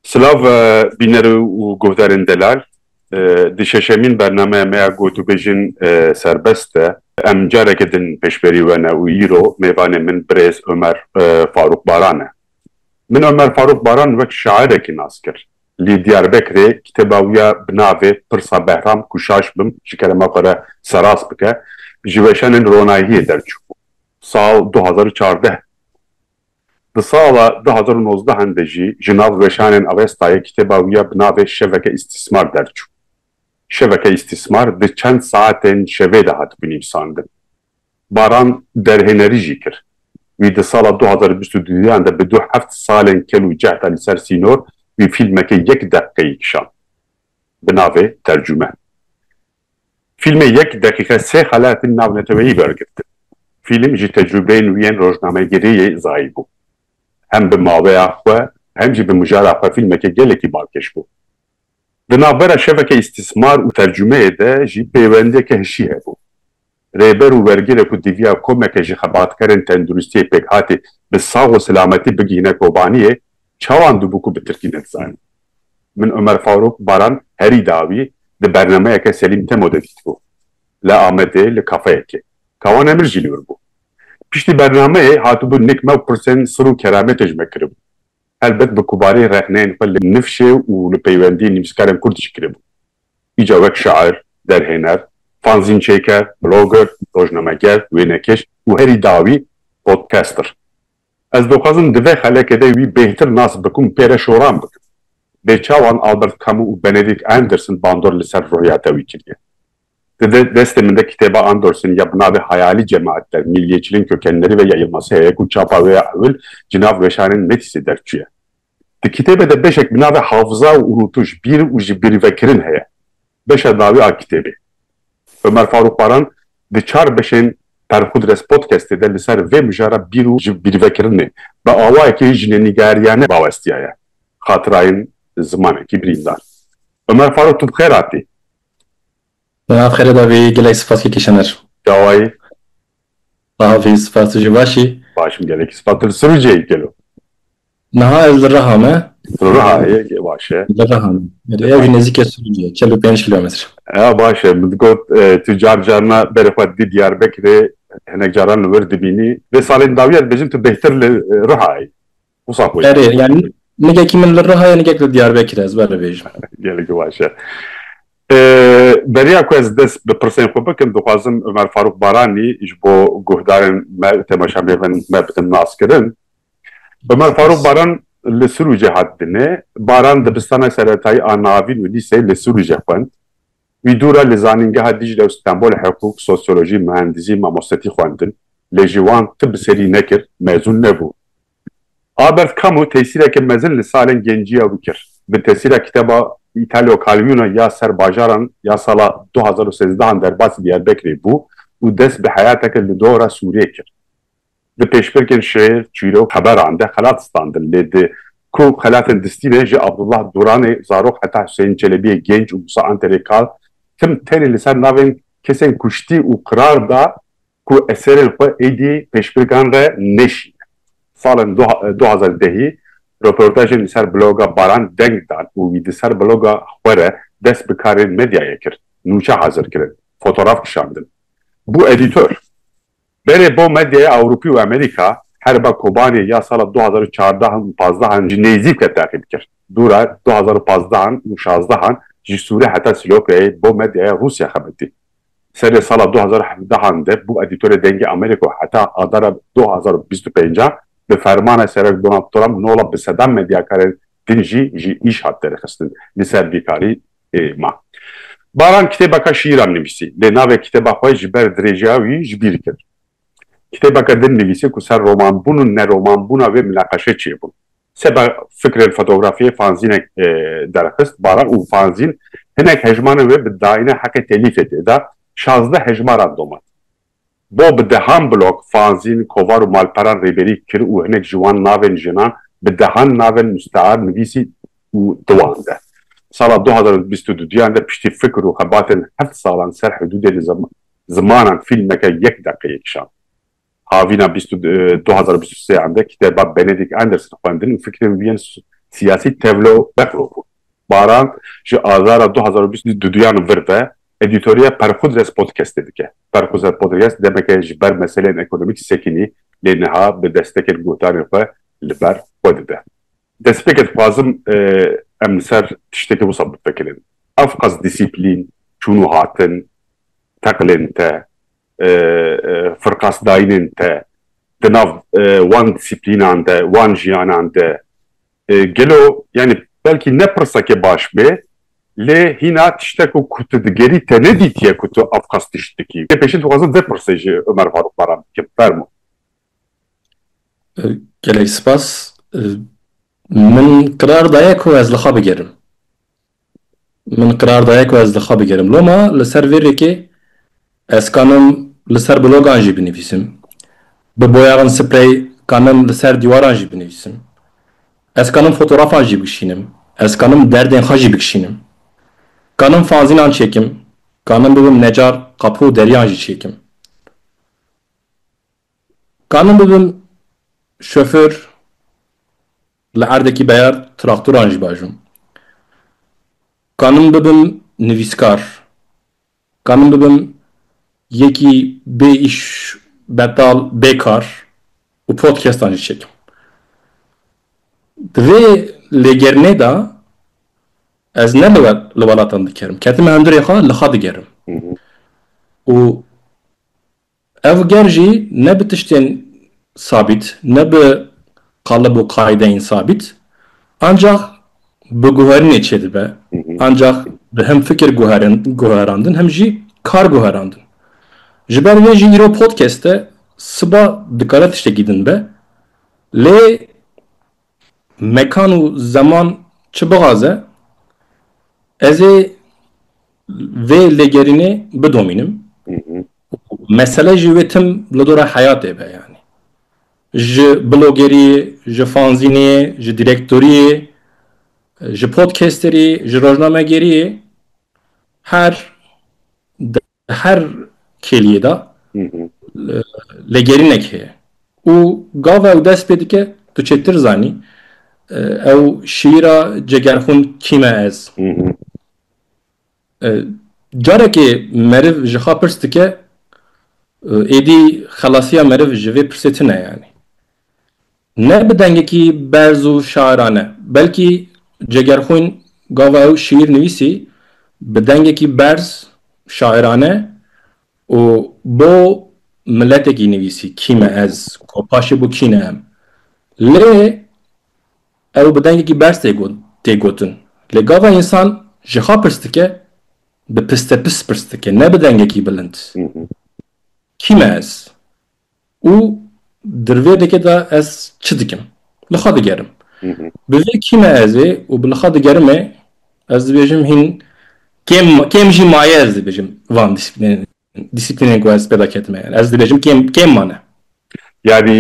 Silav bîner û guhdarên delal. Di şeşemîn bernameya me ya gotûbêjin serbest e. Em careke din pêşberî we ne û îro mêvanê min birêz Omer Farûq Baran e. Min Omer Farûq Baran wek şairekî nas kir. Li Diyarbekirê kitêba wî ya bi navê Pirsa Behram ku şaş bim ji kerema xwe re serast bike ji weşanên ronahiyê derçû. Sal du hezar û çardeh Di sala du hezar û nozdehan de jî ji nav weşanên Avestayê kitêba wî ya bi navê Şeveke Îstîsmar derçû. Şeveke Îstîsmar di çend saetên şevê de hatibû nivîsandin. Baran derhênerî jî kir. Wî di sala du hezar û bîst û du yan de bi du heft salên kel û cehd a li ser sînor wî fîlmeke yek deqîqeyî kişand bi navê Tercume. Fîlmê yek deqîqe sê xelatên navneteweyî wergirtin. Fîlm ji tecrûbeyên wî yên rojnamegerî yê zayî bû. Hem bi maweya xwe hem jî bi mijara xwe fîlmeke gelekî balkêş bû. Di navbera şeveke îstîsmar û tercumeyê de jî pêwendiyeke hişî hebû. Rêber û wergirê ku diviya komeke ji xebatkerên tenduristiyê pêkhatî bi sax û silametî bigihîne Kobaniyê, çawan dibû ku bi tirkî nedizanîn? Min Omer Faruk Baran herî dawî di bernameyeke Selîm Temo de dîtibû. Li Amedê li kafeyekê. Kawan Emir jî li wir bû. Piştî bernameyê hatibû nik me û pirsên sir û kerametê ji me kiribûn. Helbet bi kubarî rexneyên xwe li nifşê û li peywendiyên nivîskarên kurd jî kiribû. Îca wek şair, derhêner, fanzînçêker, blogger, rojnameger, wênekêş û herî dawî podcaster. Ez dixwazim di vê xelekê de wî bêhtir nas bikum, pê re şoran bikim. Bêçawan Albert Camus û Benedict Anderson bandor li ser ruhiyata wî kiriye. Di de destê min de kitêba Anderson ya bi navê Hayali Cemaat der, Milliyetçiliğin Kökenleri ve ya Yılmaz Heye ku çapa wê ya ewil ji nav weşanên Metîsê derçûye. Di kitêbê de beşek bi navê Hafıza û Unûtuş, Bîr û ji bîrvekirin heye. Beşa dawî a kitêbê. Ömer Faruk Baran di çar beşên Perxudres Podcastê de li ser vê mijara bîr û ji bîrvekirinê bi awayekî jinenîgariyane bawestiyaye xatirayên zimanekî birîndar. Ömer Faruk tu bi xêr hatî. Di nav xêrê de bî gelek spas li kişaner. Çawayî. Bavê spas tu jî baş î. Baş im gelekî spas. Tu li Sirucê yî gelo? Niha ez li Riha me. Li Riha yê baş e. Li Riha me. Erê ew jî nêzîkê Sirucê ye çel û pênc kilometre. Ew baş e. Min digot tu car carina berê xwe didî Diyarbekirê hinek caran li wir dibînî. Vê salên dawî ya dibêjin tu bêhtir li Riha yî. Erê yani nigekî min li Rihayê nigek li Diyarbekirê ez ber bêjim. Gelekî baş e. Beriya ku ez dest bi pirsên xwe bikim dixwazim Umer Farûq Baranî ji bo guhdarên me û temaşamê bin me bidin naskirin. Umer Farûq Baran li Sûrûcê hat dinê. Baran dibistana seretayî a navîn û lîseyê li Sûrûcê xwend. Wî dûre li Zanîngeha Dîcle û Stenbolê hiqûq, sosyolojî, muhendizî, mamostetî xwendin, lê ji wan ti bi serî nekir, mezûn nebû. Albert Camus tesîreke mezin li salên genciya wî kir. Bi tesîra kitêba Îtalio Calvino ya Ser Bajaran ya sala du hezar û sêzdeh an derbasî Diyarbekirê bû û dest bi heyateke li dora Sûriyê kir. Di pêşbirkên şêr, çîrok, xeberan de xelat standin lê di ku xelatên distî ne ji Abdullah Duranê zarok heta Huseyîn Çelebiyê gênc û Musa Anterê kal tim tenê li ser navên kesên kuştî û qirar da ku eserên xwe êdî pêşbirkan re nêşîne. Salên du hezar dehî roportajên li ser bloga Baran deng dan û wî di ser bloga xwe re dest bi karên medyayê kir, nûçe hazir kirin, fotograf kişandin. Bû edîtor. Berê bo medyaya Ewropî û Amerîka herba Kobanê ya sala du hezar û çardeh an û pazdeh an ji nêzîk ve teqîb kir. Dûra du hezar û pazdeh an û şazdeh an ji Sûrê heta Silopyayê bo medyaya Rûsya xebitî. Serê sala du hezar û hevdeh an de bû edîtorê Dengê Amerîka û heta adara du hezar û bîst û pênc a bi fermana Serok Donald Trump nola bi sedan medyakarên din jî ji îş hat derxistin li ser bîkarî ma. Baran kitêbeka şîîran nivîsî lê navê kitêba xwe ji ber dirêjeya wî ji bîr kir. Kitêbeke din nivîsî ku ser romanbûn û neromanbûna wê mineqeşe çêbûn. Seba fikrên fotografiyê fanzînek derxist Baran û fanzîn hinek hejmanên wê bi dayîna heqê telîfê tê da, şazdeh hejmaran domat. Bo bi dehan blog, fanzîn, kovar û malperan rêberî kir û hinek ji wan navên jinan bi dehan navên mustear nivîsî û diwande. Sala du hezar û bîst û du duyan de piştî fikr û xebatên heft salan ser hidûdê li zimanan fîlmeke yek deqeyê kişand. Havîna bîst û du hezar û bîst û sê an de kitêba Benedict Anderson xwendin û fikrên wî yên siyasî tevlo bexlo bûn. Baran ji azara du hezar û bîst û du duyan vir ve Edîtoriya Perxudres Podcastê dike. Perxudres Podcast demeke ji ber meseleyên ekonomîkî sekinî lê niha bi destekên gotanên xwe li ber xwe dide. Destpêkê dixwazim em li ser tiştekî wisa bifikirin. Ev qas dîsîplîn, çûn û hatin, teqlên te, firqasdayînên te di nav wan dîsîplînan de wan jiyanan de gelo yanî belkî ne pirseke baş bê lê hîna tiştek û ku tu digerî te nedîtiye ku tu ev qas tişt dikî. Lê pêşî dixwazim vê pirsê ji Omer Farûq Baran bikim. Fermo. Gelek spas. Min qirar daye ku ez li xwe bigerim. Min qirar daye ku ez li xwe bigerim. Loma li ser vê rêkê ez kanim li ser blogan jî binivîsim. Bi boyaxên sprey kanim li ser dîwaran jî binivîsim. Ez kanim fotografan jî bikişînim. Ez kanim derdên xwe jî bikişînim. Kanim fanzînan çêkim. Kanim bibim necar qapû û deriyan jî çêkim. Kanim bibim şoför Li erdekî beyar traktoran jî baş bûm. Ka min bibim nivîskar, ka min bibim yekî bê îş, betal, bê kar û podcastan jî çêkim. Di vê lêgerînê de ez ne li li welatan dikerim. Ketime hundirê xwe li xwe digerim. Û Ev ger jî ne bi tiştên sabît, ne bi qalib û qaîdeyên sabît, ancax bi guherînê çêdibe, ancax bi him fikir guherandin him jî kar guherandin. Ji ber vê jî îro podcast e, siba dikare tiştekî din be, lê Mekan û zeman çi bixaze, ez ê vê lêgerînê bidomînim û mesele jî wê tim li dora heyatê be yanî. Ji blogeriyê, ji fanzînê, ji dîrektoriyê, ji podcasterî, ji rojnamegeriyê her Di her kêliyê de lêgerînek heye û gava ew dest pê dike tu çêtir zanî ew şiîra Cegerxwin kî me ez? Carekê meriv ji xwe pirs dike êdî xelasiya meriv ji vê pirsê tune yanî. Ne bi dengekî berz û şairane, belkî Cegerxwîn gava ew şîîr nivîsî bi dengekî berz, şairane û bo miletekî nivîsî, kî me ez, ko paşê bo kî ne em. Lê ew bi dengekî berz tê got, tê gotin. Lê gava însan ji xwe pirs dike, bi pistepis pirs dike, ne bi dengekî bilind. Kî me ez? Û di rivê dikê de ez çi dikim? Li xwe digerim. Bi vê kîme ez ê û bi li xwe digerimê ez dibêjim hîn kêm kêm jî maye ez dibêjim van dîsîplînên dîsîplînên ku ez pê de ketime ez dibêjim kêm kêm mane. Yanî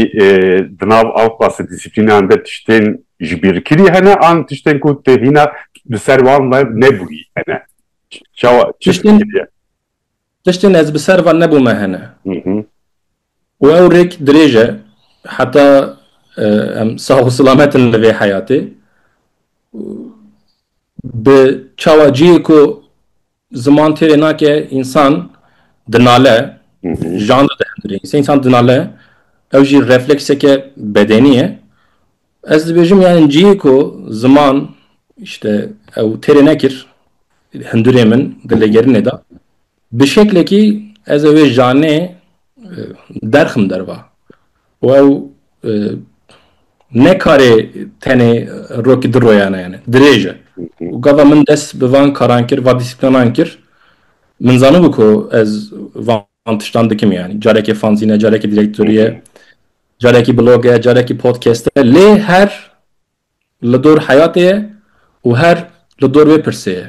di nav ev qasî dîsîplînan de tiştên ji bîr kirî hene an tiştên ku tu hîna li ser wan ve nebûyî hene? Çawa tiştên Tiştên ez bi ser ve nebûme hene. Û ew rêk dirêj e heta em sağ û silamet in li vê heyatê. Bi çawa cihê ku ziman têrê nake însan dinale, jan dihendirê. Însan dinale ew jî reflekseke bedenî ye Ez dibêjim yani cihê ku ziman işte ew têrê nekir hindurê min di lêgerinê de bi şeklekî ez ê wê janê e, derxim derva û ew e, ne karê tenê rokî di royane yani dirêj e û gava min dest bi van karan kir va dîsiplînan kir min zanibû ku ez van tiştan dikim yani carekê fanzîne carekê direktoriye Carekî blog e, carekî podcast e lê her li dor heyatê ye û her li dor vê pirsê ye.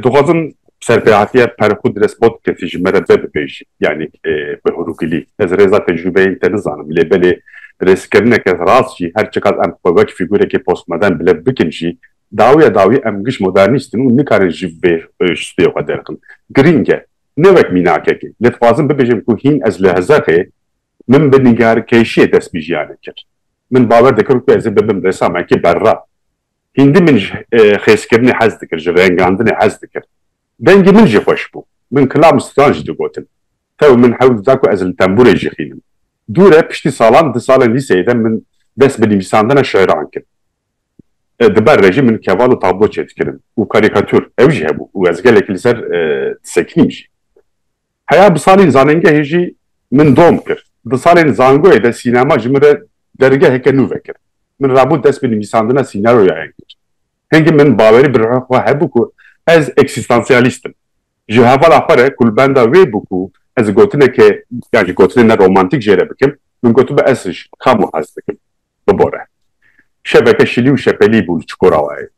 Dixwazim serpêhatiya per xwe di dest podcastê ji me re ve bibêjî yanî bi hûrûgilî. Ez rêza tecrûbeyên te nizanim lê belê rêzkirineke rast jî her çiqas em xwe wek fîgûrekê postmodern bi lev bikin jî dawîya dawî em giş modernîst in û nikarin ji vê ştê xwe derxin. Girîng e ne wek mînakekê. Lê dixwazim bibêjim ku hîn ez li Hezexê min bi nîgarkêşiyê dest bi jiyanê kir. Min bawer dikir ku ez ê bibim resamekî berra. Hîndî min ji xêzkirinê hez dikir, ji rengandinê hez dikir. Dengê min jî xweş bû. Min kilam û stran jî digotin. Tew min hewl dida ku ez li tenbûrê jî xînim. Dûr e, piştî salan di salên lîseyê de min dest bi nivîsandina şiiran kir. di ber re jî min keval û tablo çêdikirin û karîkatûr ew jî hebû û ez gelekî li ser disekinîm jî. Heya bi salên zanengehê jî min dom kir. Di salên zangoyê de sînema ji min re dergeheke nû vekir. Min rabûn dest bi nivîsandina sînaroyayan kir. Hingî min bawerî bi ruha xwe hebû ku ez eksîstansiyalîst im. Ji hevala xwe re kulbenda wê bû ku ez gotineke ya ji gotinên me romantîk jê re bikim, min gotibû ez ji Kamo hez dikim. Bibore. Şeveke şilî û şepelî bû li Çukurawayê.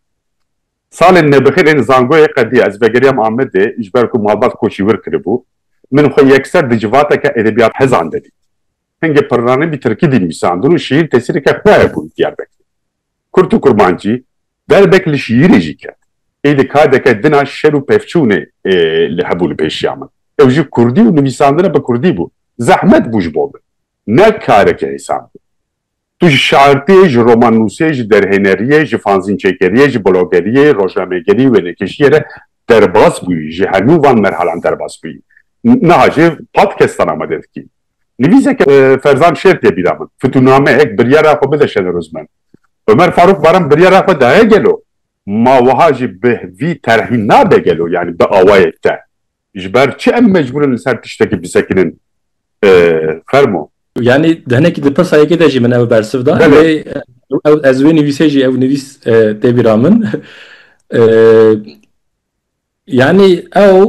Salên nebixîr ên zangoyê qedîya ez vegeriyam Amedê ji ber ku malbat koçî wir kiribû. Min xwe yekser di civateke edebiyathezan de dît. Hingê pirranî bî tirkî dînivîsandin û şîîr tesîreke xwe hebû li Diyarbekirê. Kurt û kurmancî derbek li şîîrê jî ket. Êdî kadeke dina şer û pevçûnê li hebû li pêşiya min. Ew jî kurdî û nivîsandina bi kurdî bû. Zehmet bû ji bo min. Ne kareke hêsan bû. Tu ji şairtiyê, ji romannûsê, ji derhêneriyê, ji fanzînçêkeriyê, ji blogeriyê, rojnamegerî, wênekêşiyê re derbas bûyî. Ji hemû van merhalan derbas bûyî. Niha jê podcastan amade dikî. Nivîseke Ferzan Şêr tê bîra min. Fitûnameyek biryara xwe bide Şenerozmen. Omer Farûk Baran biryara xwe daye gelo? Ma wiha jî bi vî terhî nabe gelo yanî bi awayek te? Ji ber çi em mecbûr in li ser tiştekî bisekinin? Fermo. Yanî di hinekî di pirsa yekê de jî min ew bersiv da. Lê ez wê nivîsê jî ew nivîs tê bîra min. Yanî ew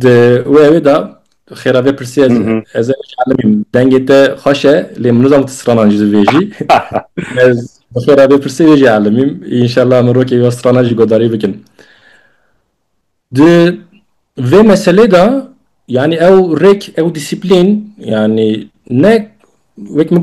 di wê wê de xêra vê pirsîya ez ez ê bielîmîm dengê te xweş e lê min nizam tu stranan jî divêjî ez bi xêra vê pirsîyê wê jî elîmîm înşellah min rokê wî stranan jî godarî bikin di vê meselê de yanî ew rêk ew dîsîplîn yanî ne wek min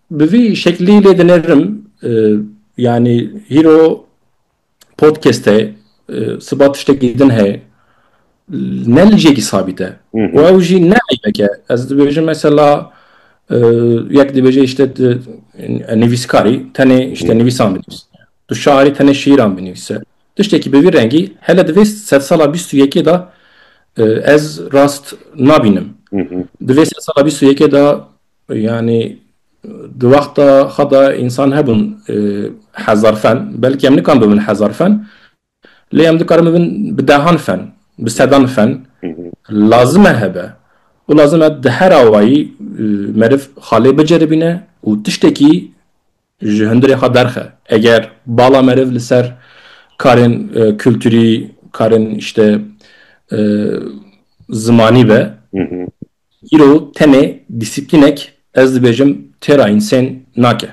Bi vî şeklî lê dinerim yanî hîro podkeste siba tiştekî din heye ne li jêkî sabît e û ew jî ne eybeke ez dibêjim mesela yek dibêje îşte nivîskarî tenê îşte nivîsan binivîs tu şairî tenê şîran binivîse tiştekî bi vî rengî hele divê sed sala bîst û yekê de ez rast nabînim divê sed sala bîst û yekê de Yanî di wexta xwe de însan hebûn hezar fen, belkî em nikan bibin hezar fen, lê em dikarin bibin bi dehan fen, bi sedan fen, lazim e hebe û lazim e di her awayî meriv xalê biceribîne û tiştekî Ji hundirê xwe derxe. Eger bala meriv li ser karên kulturî, karên îşte zimanî be, îro tenê dîsîplînek ez dibêjim têra însên nake.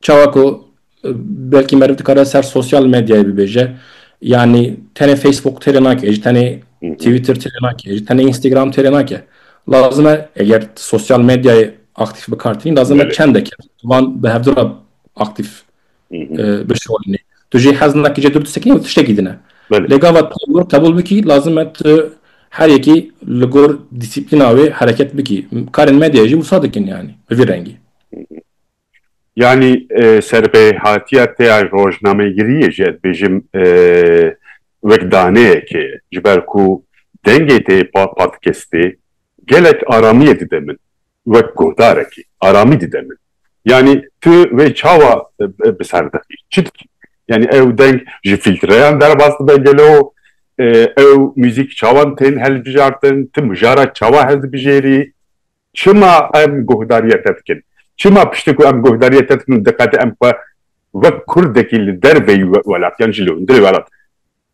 Çawa ku belkî meriv dikare ser sosyal medyayê bibêje, yanî tenê Facebook têrê nake, ji tenê Twitter têrê nake, ji tenê Instagram têrê nake. Lazim e eger sosyal medyayê aktîf bikar tînî, lazim e çendeke Wan bi hevdu re aktîf bişolinê. Tu jê hez nake cê dur disekinî û tiştekî dine. Lê gava tu qebûl bikî lazim e tu her yekî li gor dîsîplîna wê hereket bikî. Karên medyayê jî wisa dikin yanî bi vî rengî. Yanî serbehatiya te ya rojnamegiriyê jî ez dibêjim wek daneyek e. Ji ber ku dengê te paqij kestê gelek aramiyê dide min. wek guhdarekî aramî dide min. Yanî tu wê çawa bi ser dixî? Çi dikî? Yanî ew deng ji fîltreyan derbas dibe gelo? Ew muzîk çawan tên hilbijartin? Tu mijara çawa hildibijêrî? Çima em guhdariya te dikin? Çima piştî ku em guhdariyê te dikin û diqete em xwe wek kurdekî li derveyî welatiyan jî li hundirê welat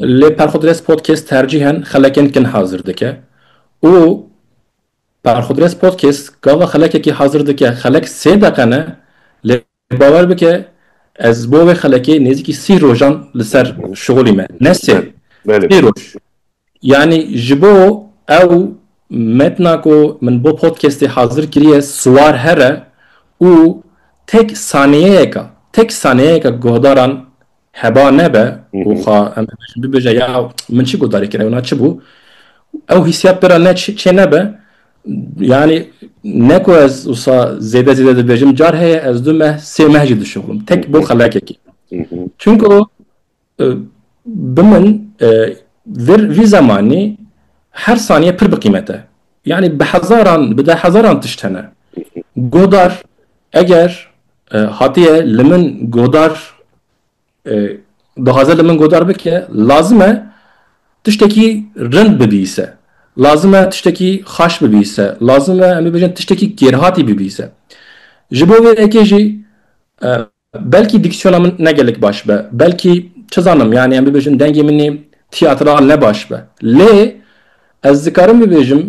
Lê Perxudres Podcast tercîhen xelekên kin hazir dike û Perxudres Podcast gava xelekekî hazir dike, xelek sê deqe ne lê bawer bike ez bo wê xelekê nêzîkî sî rojan li ser şixulî me, ne sê, sî roj. Yanî ji bo ew metna ku min bo podcastê hazir kiriye siwar here û tek saniyeyeka, tek saniyeyeka guhdaran Heba nebe û xwe em bibêje ya min çi guhdarî kir ewna çi bû? Ew hîsiyat pira ne çê nebe yanî ne ku ez wisa zêde zêde dibêjim car heye ez du meh sê meh jî dişuxlim tek bo xelekekî. Çunku e, bi min e, vir vî zemanî her saniye pir bi qîmet e. Yanî bi hezaran bi de hezaran tişt hene. Guhdar eger Hatiye li min godar dixwaze li min godar bike, lazim e tiştekî rind bibîse, lazim e tiştekî xaş bibîse, lazim e em ê bêjin tiştekî kêrhatî bibîse. Ji bo vê yekê jî belkî dîksiyona min ne gelek baş be, belkî çi zanim yanî em ê bêjin dengê min ê tîyatral ne baş be. Lê ez dikarim bibêjim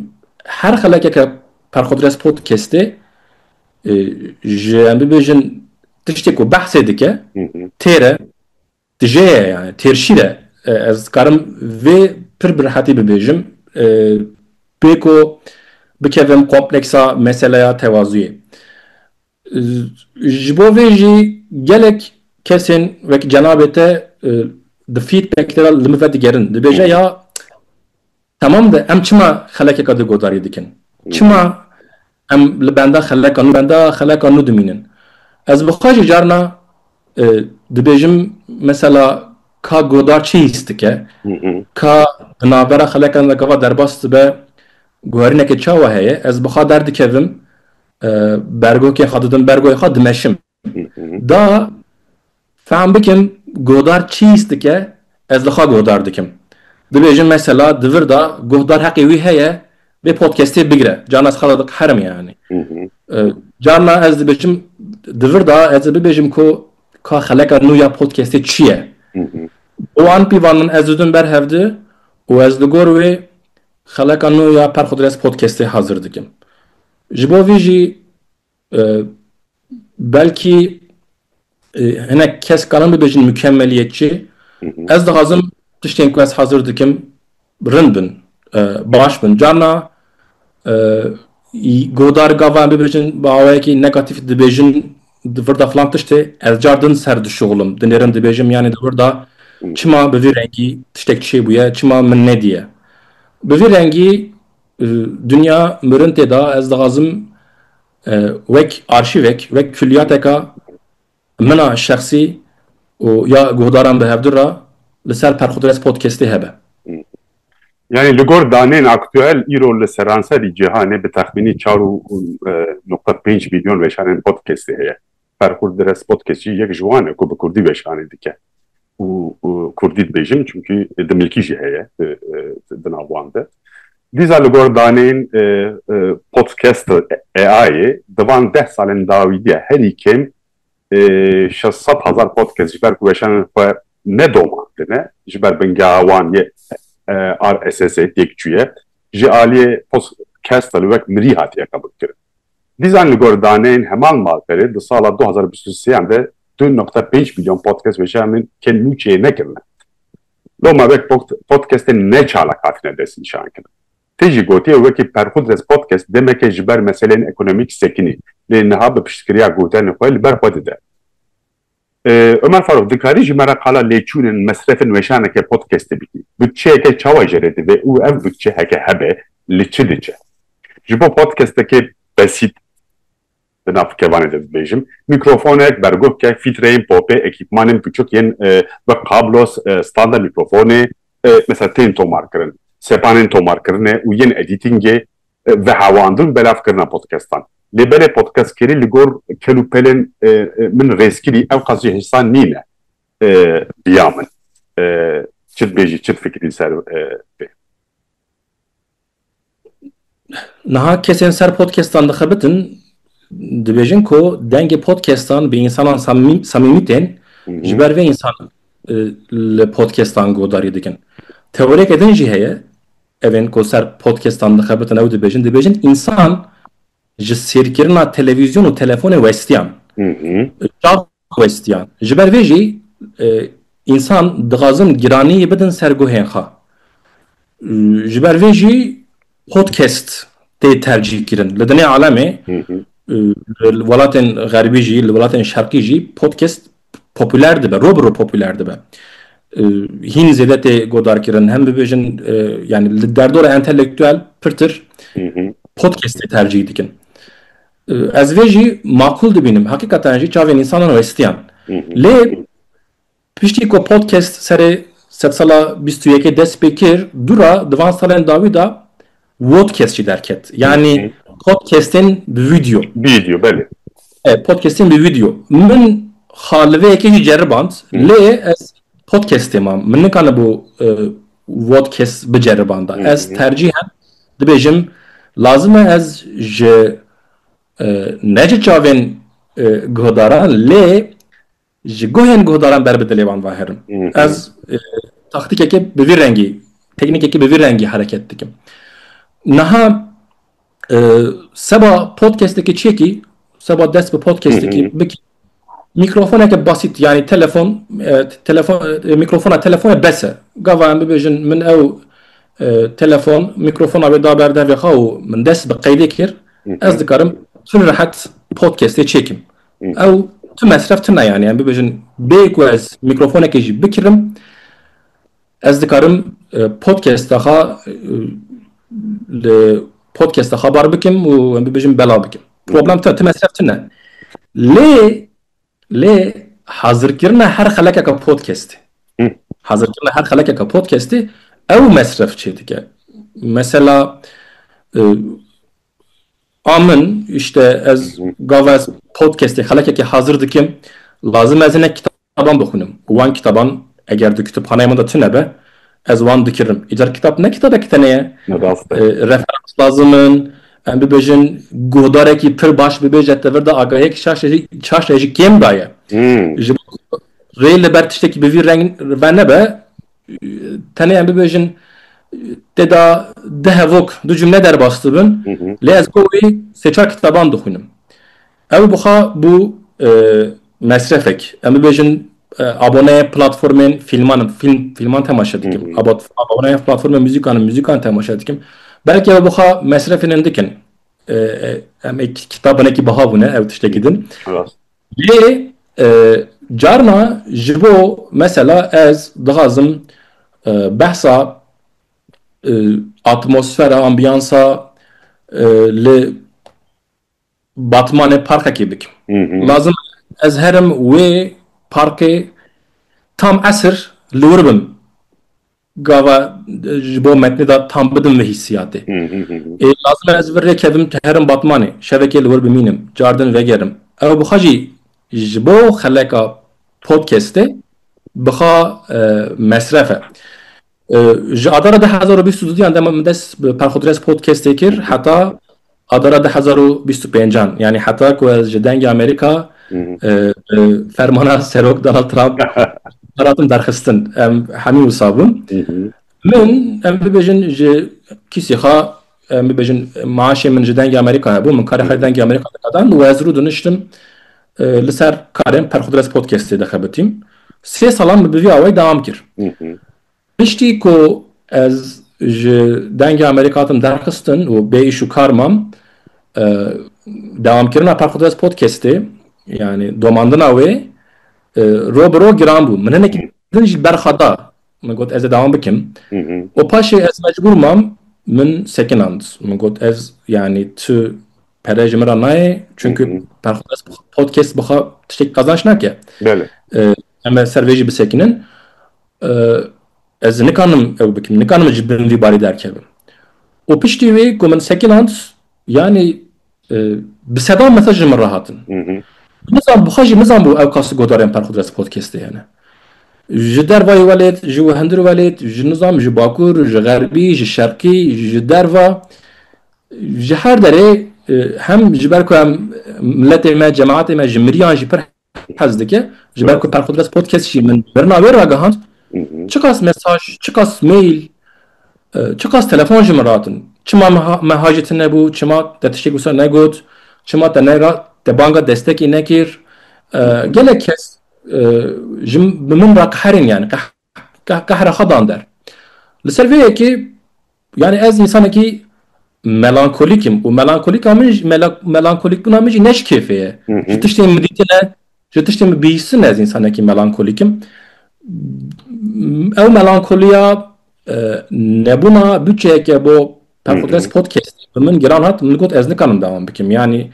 her xelekeke perxodres podkestê Ji em bibêjin tiştê ku behsê dike têr e, tijê ye yani têrşîr e. Ez dikarim vê pir bi rehetî bibêjim bê ku bikevim kompleksa meseleya tewazuyê. Ji bo vê jî gelek kesên wek cenabê te di feedback de li min ve digerin dibêje ya Tamam de em çima xelekeka di godarî dikin? Çima em li benda xeleka nû benda xeleka nû dimînin? Ez bi xwe jî carna dibêjim mesela ka godar çi hîs dike? Ka di navbera xelekan de gava derbas dibe guherîneke çawa heye? Ez bi xwe derdikevim bergokên xwe didim bergoyê xwe dimeşim. Da fehm bikin guhdar çi hîs dike ez li xwe guhdar dikim. Dibêjin mesela di vir de guhdar heqê wî heye vê podcastê bigire. Carna ez xwe re diqeherim yanî. Carna ez dibêjim di vir de ez ê bibêjim ku ka xeleka nû ya podcastê çi ye. Bi wan pîvan min ez didim ber hev di û ez li gor wê xeleka nû ya Perxudres podcastê hazir dikim. Ji bo vî jî Belkî hinek kes karin bibêjin mukemmeliyetçi. Ez dixwazim tiştên ku ez hazir dikim rind bin, baş bin. Carna guhdar gava em bibêjin bi awayekî negatîf dibêjin di vir de filan tiştê, ez car din ser dişuxilim, dinêrim dibêjim yanî di vir de çima bi vî rengî tiştek çêbûye, çima min nediye. Bi vî rengî Dinya mirin tê da ez dixwazim wek arşîvek, wek kulliyateka min a şexsî û ya guhdaran bi hevdu re li ser Perxudres Podcastê hebe. Yanî li gor danên aktuel îro li seranserî cîhanê bi texmînî çar û nokta pênc mîlyon weşanên podcastê heye. Ferxur Dires Potkeçî yek ji wan e ku bi kurdî weşanê dike û kurdî dibêjin çimkî dimilkî jî heye di nav wan de. Dîsa li gor daneyên Podcast AI'ê di van deh salên dawî de herî kêm şeş sed hezar podcast ji ber ku weşanên xwe ne domandine ji ber bingeha wan yê RSS'ê têk çûye. Ji aliyê Podcast li wek mirî hatiye qebûlkirin. Dîzan li gor daneyên heman malperê di sala du hezar û bîst û sê de du noqta pênc milyon podcast weşanîn ke nû çê nekirine. Loma ve podcastên ne çalak hatine destnîşankirin. Tê jî gotiye wekî Perxudres Podcast demeke ji ber meseleyên ekonomîk sekinî lê niha bi piştgiriya gotiyanên xwe li ber xwe dide. Omer Faruk, dikarî ji me re qala lêçûnên mesrefên weşaneke podcastê bikî? Butçeyeke çawa jê re divê û ev butçe heke hebe li çi diçe? Ji bo podcastekê besît di nav kevanê de bibêjim, mîkrofonek, berguvkek, fîtreyên popê, ekîpmanên biçûk yên wek kablos, standa mîkrofonê, mesela tên tomarkirin, sepanên tomarkirinê û yên edîtîngê Vehewandin belavkirina podcastan. Lê belê podcastkerî li gor kel û pelên min rêzkirî ewqas jî hêsan nîne biya min çi dibêjî çi difikirî li ser vê. Niha kesên ser podcastan dixebitin dibêjin ku dengê podcastan bi însanan samîmî tên ji ber vê însan li podcastan guhdarî dikin. Teoriyeke din jî heye Evên ku ser podcastan dixebitin ew dibêjin, dibêjin însan ji sêrkirina televîzyon û telefonê westiyan. Çav westiyan. Ji ber vê jî însan dixwazin giraniyê bidin ser guhên xwe. Ji ber vê jî podcast tê tercîh kirin. Li dinê alemê li welatên xerbî jî, li welatên şerqî jî podcast popûler dibe, rû bi rû popûler dibe. Hîn zêde tê godarkirin hem bibêjin yanî li derdora entelektuel pirtir podcastê tercîh dikin. Ez vê jî makûl dibînim heqîqatan jî çavên însanan westiyan. Lê piştî ku podcast serê sedsala bîst û yekê dest pê kir dû ra di van salên dawî de Vodcast jî derket. Yanî podcastên bi video. Bi video belê. E, podcastên bi video. Min xaliveyekê jî ceriband. Lê ez podcastê mam. Min nikane bû e, vodcast biceribanda. Ez tercîhen dibêjim lazim e ez ji e, ne ji çavên e, guhdaran lê Ji guhên guhdaran ber bi dilê wan ve herim. Ez taktîkekê bi vî rengî, teknîkekê bi vî rengî hereket dikim. Niha seba podcastekê çêkî, seba dest bi podcastekî bikî, mîkrofoneke basît yanî telefon, telefon mîkrofona telefona bes e. Gava em bibêjin min ew telefon mîkrofona wê da ber devê xwe û min dest bi qeydê kir, ez dikarim pir rehet podcastê çêkim. ew tu mesref tune yani em bibêjin bê ku ez mîkrofonekê jî bikirim ez dikarim e, podcasta xwe e, li podcasta xebar bikim û em bibêjin bela bikim problem te tu mesref tune lê lê hazirkirina her xelekeke podcastê hazirkirina her xelekeke podcastê ew mesref çê dike mesela e, A min îşte ez gava ez podcastê xelekekê hazir dikim lazim ez hinek kitaban bixwînim û wan kitaban eger di kitûbxaneyê min de tune be ez wan dikirim. Îcar kitab ne kitabeke tenê ye. Referans lazim in, em bibêjin guhdarekî pir baş bibêje tevir de agahiyek şaşe jî şaşe jî kêm daye. Ji bo rê li ber tiştekî bi vî reng ve nebe Tenê em bibêjin tê de du hevok, du cumle derbas dibin. Lê ez bo wê sê çar kitaban dixwînim. Ew bixa bû mesrefek. Em bibêjin aboneyê platformên fîlman im, fîlm, fîlman temaşe dikim. Aboneyê platformên muzîkan im, muzîkan temaşe dikim. Belkî ew bixa mesrefên em dikin. Em ê kitabanekî biha bûne, ew tiştekî din. Lê carna ji bo mesela ez dixwazim behsa atmosfera, ambiyansa li Batmanê parkekê bikim. Lazim e ez herim wê parkê tam esir li wir bim. Gava ji bo metnê de tam bidim vê hîssiyatê. Ê lazim e ez vir rê kevim tu herim Batmanê, şevekê li wir bimînim, car din vegerim. Ew bixa jî ji bo xeleka podcastê bixa mesref e. Ji adara du hezar û bîst û du de min dest bi Perxudres podcastê kir heta Avbera du hezar û bîst û pênc an yanî heta ku ez ji dengê Amerîka bi fermana Serok Donald Trump hatim derxistin em hemî wisa bûn. Min em bibêjin ji kîsê xwe em bibêjin maaşê min ji dengê Amerîka hebû min karê xwe dengê Amerîka dikadan û ez rû diniştim li ser karên Perxudres Podcastê dixebitîm. Sê salan min bi vî awayî dewam kir. Piştî ku ez ji dengê Amerîkê hatim derxistin û bê îş û kar mam, dewamkirina Perxwedwest Podcastê yanî domandina wê roj bi roj giran bû. Min hinekî din jî berxa da. Min got ez ê dewam bikim. Û paşê ez mecbûr mam, min sekinand. Min got ez yanî tu pere ji min re nayê çunku Perxwedwest Podcast bi xwe tiştekî qazanc nake. Belê. Em ê ser vê jî bisekinin. Ez nikanim ew bikim, nikanim ji bin vî barî derkevim. Û piştî wê ku min second hand yanî bi sedan mesaj ji min re hatin. Nizam bixwe jî nizam bû ew kas godarên Perxudres Podcastê hene. Ji dervayê welêt, ji wehindir welêt, ji nizam ji bakur, ji xerbî, ji şerqî, ji derva, ji her derê hem ji ber ku em miletê me, cemaetê me ji miriyan jî pir hez dike. Ji ber ku Perqudres Podcast jî min birina wê ragihand, çiqas mesaj, çiqas mail, çiqas telefon ji min ratin. Çima me hajê te nebû, çima te tiştêk wisa negot, çima te ne te banga destekê nekir. Gelek kes ji bi min re qeherîn yani qeherîn. Qehre xwe dan der. Li ser vê yekê yanî ez însanekî melankolîk im û melankolîka min jî melankolîkbûna min jî ne ji kêfê ye. Ji tiştên min dîtine, ji tiştên min bihîstin ez însanekî melankolîk im. Ew melankoliya nebûna bûçeyeke bo Perfordes Podcastê bi min giran hat, min got ez nikarim dewam bikim. Yanî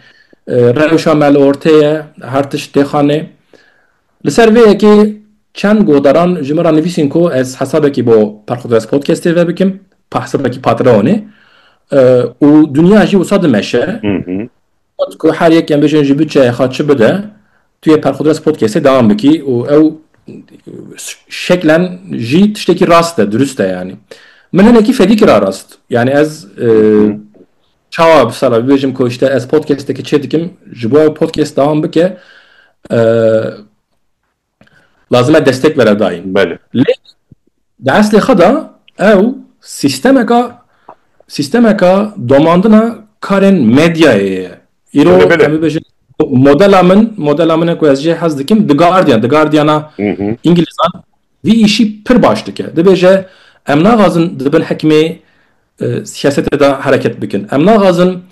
rewşa me li ortê ye, her tişt têxanê. Li ser vê yekê çend guhdaran ji min re nivîsîn ku ez hesabekî bo Perxwdres Podcastê ve bikim, hesabekî Patreonê û dinya jî wisa dimeşe. Got ku her yek em bêjin ji bütçeya xwe çi bide, tu yê Perxwdres Podcastê dewam bikî û ew şeklen jî tiştekî rast e, dirust e yanî. Min hinekî fedî kir a rast. Yanî ez Çawa bi sala bibêjim ku işte ez podcastekî çê dikim ji bo ew podcast dewam bike lazim e destek vere dayîn. Belê. Lê di eslê xwe de ew sîstemeka sîstemeka domandina karên medyayê ye. Îro Belê, belê. em bibêjin modela min modela min e ku ez jê hez dikim The Guardian The Guardiana Hı hı. îngilîzan Vî îşî pir baş dike. Dibêje em naxwazin di bin hikmê siyasetê de hereket bikin. Em naxwazin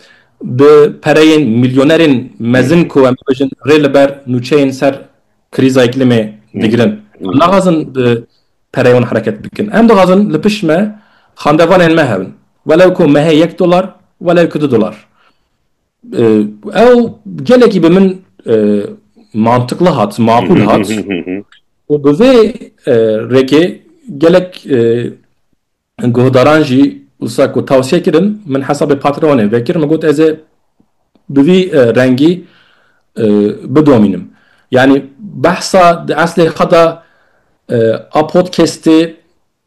bi pereyên milyonerên mezin ku em dibêjin rê li ber nûçeyên ser krîza îklîmê digirin. Em naxwazin bi pereyê wan hereket bikin. Em dixwazin li pişt me xandevanên me hebin. Welew ku me heye yek dolar, welew ku du dolar. Ew gelekî bi min mantiqli hat, maqûl hat û bi vê rêkê gelek guhdaran jî wisa ku tawsiye kirin min hesabê Patreonê vekir min got ez ê bi vî rengî bidomînim. Yanî behsa di eslê xwe de a podcastê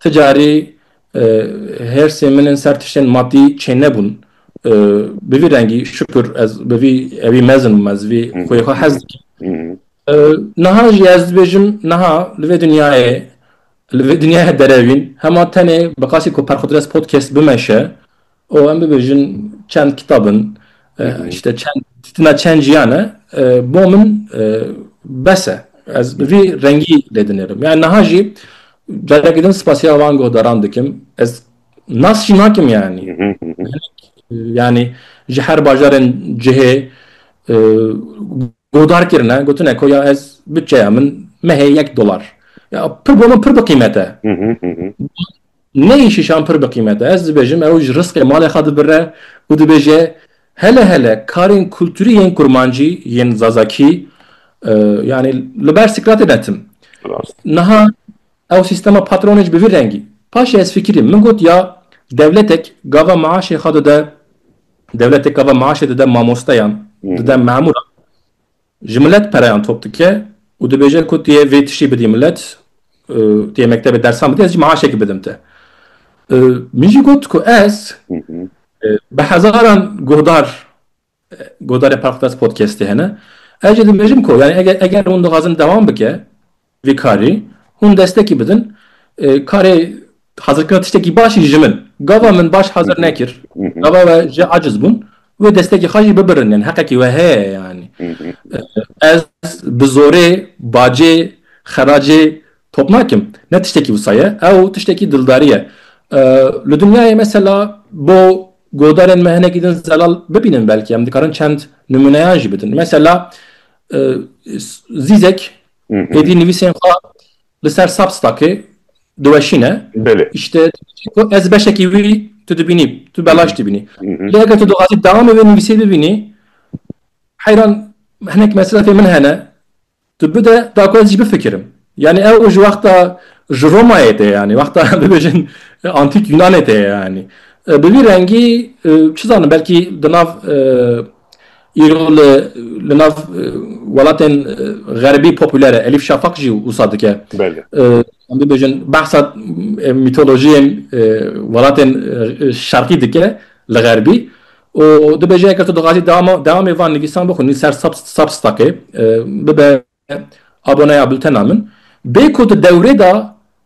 Ti carî hêrsên min ên ser tiştên matî çênebûn. Bi vî rengî şukur ez bi vî evî mezin bûm, ez vî xweyê xwe hez dikim. Niha jî ez dibêjim niha li vê dinyayê li vê dinyaya derevîn hema tenê bi qasî ku Perxudres Podcast bimeşe û em bibêjin çend kitap in, işte çend tîna çend jiyan e, bo min bes e. Ez bi vî rengî lê dinêrim. Yani niha jî carekî din spasiya van guhdaran dikim. Ez nas jî nakim yani. Yani ji her bajarên cihê guhdar kirine, gotine ku ya ez bütçeya min mehê yek dolar. Ya pir bo min pir bi qîmet e. Neyê şîşan pir bi qîmet e. Ez dibêjim ew ji risqê malê xwe dibire û dibêje hele hele karên kulturî yên kurmancî yên zazakî yanî li ber Sîkratê betim. Niha ew sîstema patronê ji bi vî rengî. Paşê ez fikirîm min got ya dewletek gava maaşê xwe dide dewletek gava maaşê dide mamosteyan dide memûran. Ji milet pereyan top dike û dibêje ku tu yê vê tiştî bidî milet, tu yê mektebê dersan bidî, ez jî maaşekî bidim te. Min jî got ku ez bi hezaran guhdar, guhdarê Parkdars Podcastê hene, ez jî dibêjim ku eger hûn dixwazin dewam bike, Vê karî hûn destekî bidin. Karê hazirkirina tiştekî baş jî ji min. Gava min baş hazir nekir. Gava we ji aciz bûn. Wê destekî xwe jî bibirin. Yanî heqekî we heye yanî. Ez bi zorê bacê xeracê top nakim. Ne tiştekî wisa ye. Ew tiştekî dildarî ye. Li dinyayê mesela bo godarên me hinekî din zelal bibînin belkî. Em dikarin çend nimûneyan jî bidin. Mesela Zîzek Êdî nivîsên xwe li ser Substackê diweşîne. Belê. Îşte ez beşekî wî tu dibînî, tu belaş dibînî. Lê eger tu dixwazî dewamê wê nivîsê bibînî, heyran hinek meselefê min hene, tu bide da ku ez jî bifikirim. Yanî ew ji wexta ji Romayê tê yanî, wexta bibêjin antîk Yunanê tê yanî. Bi vî rengî çi zanim belkî di nav Îro li li nav welatên xerbî popüler e. Elîf Şafak jî wisa dike. Belê. Em bibêjin behsa mîtolojiyên welatên şerqî dike li xerbî û dibêje eger tu dixwazî dewamê van nivîsan bixwînî ser Substackê bibe Aboneya bultena min, bê ku di dewrê de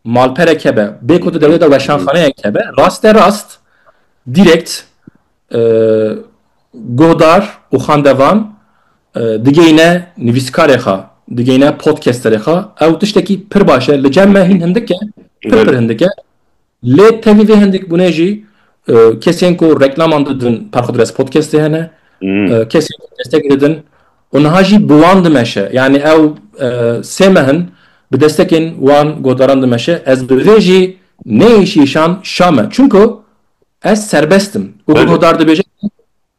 malpereke be, bê ku di dewrê de weşanxaneyeke be, rasterast, direct, guhdar û xandevan digeyne nivîskarê xwe, digeyne podcasterê xwe, ew tiştekî pir baş e, li cem me hîn hindik e, pir pir hindik e, Lê tevî vê hindikbûnê jî kesên ku reklaman didin Perxudres Podcastê hene, kesên ku destek didin û niha jî bi wan dimeşe. Yanî ew sê meh in bi destekên wan guhdaran dimeşe. Ez bi vê jî neyê şîşan şa me. Çimku ez serbest im û guhdar dibêje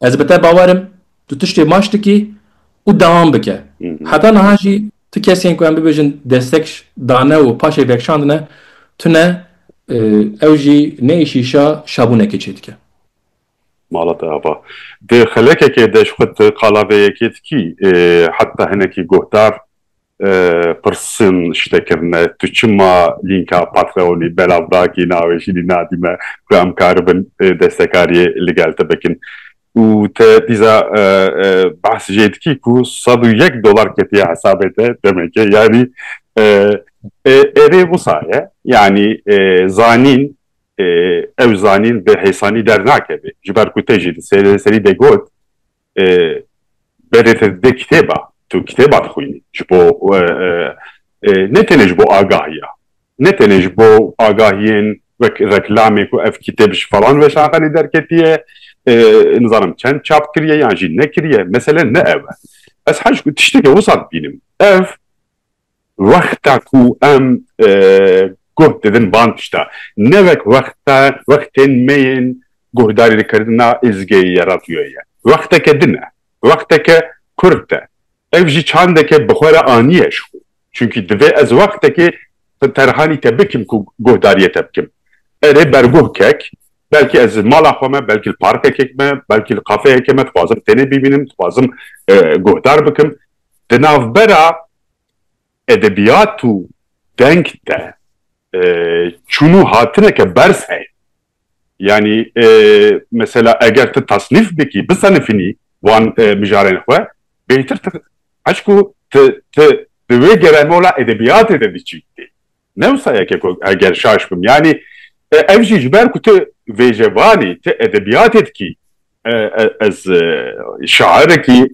Ez bi te bawer im, tu tiştê baş dikî û dewam bike. Heta niha jî tu kesên ku em bibêjin destek dane û paşê vekşandine tune, ew jî ne êşîşa şabûnekê çêdike. Mala te ava. Di xelekekê de ji xwe tu qala vê yekê dikî, heta hinekî guhdar pirsin, şite kirine, tu çima lînka Patreon'î belav dakî, navê jî lî nadîme ku em karibin destekariyê li gel te bikin. Û te dîsa behs jê dikî ku sed û yek dolar ketiye hesabê te demekê. Yanî erê wisa ye. Yanî zanîn ew zanîn bi hêsanî dernakeve. Ji ber ku te jî di serî de got berê te dide kitêba tu kitêba dixwînî ji bo ne tenê ji bo agahiya ne tenê ji bo agahiyên wek reklamê ku ev kitêb ji falan weşanxanê derketiye nizanim çend çap kiriye yan jî nekiriye mesele ne ew e ez hej ku tiştekê wisa dibînim ev Wexta ku em guh didin van tişta, ne wek wexta wextên me yên guhdarîkirina Îzgeyê ya radyoyê ye. Wexteke din e. Wexteke kurt e. Ev jî çandeke bi xwe re aniye ji xwe. Çunkî divê ez wextekê terhanî te bikim ku guhdariyê te bikim. Erê berguh kek, belkî ez li mala xwe me, belkî li parkekê me, belkî li kafeyekê me dixwazim tenê bîbînim, dixwazim guhdar bikim. Di navbera edebiyat û deng de çûn û hatineke berz heye. Yanî mesela eger tu tasnîf bikî, bisenifînî wan mijarên xwe bêhtir tu eşk û tu di wê geremola edebiyatê de diçî. Ne wisa yeke ku eger şaş bim yanî ev jî ji ber ku tu vêjevanî tu edebiyatê dikî ez şairekî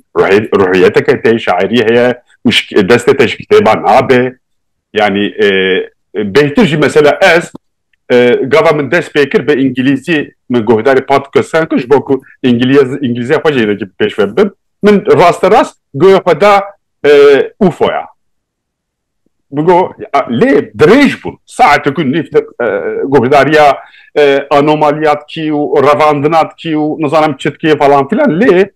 ruhiyeteke tê şairî heye û destê te ji kitêba nabe yanî bêhtir jî mesela ez gava min dest pê kir bi îngilîzî min guhdarê podkasan kir ji bo ku îngilîzî xwe jê pêşve bim min rasterast guya xwe da ufoya Bigo lê dirêj bûn saetek û nîv guhdariya anomaliya dikî û revandina dikî û nizanim çi dikî falan filan lê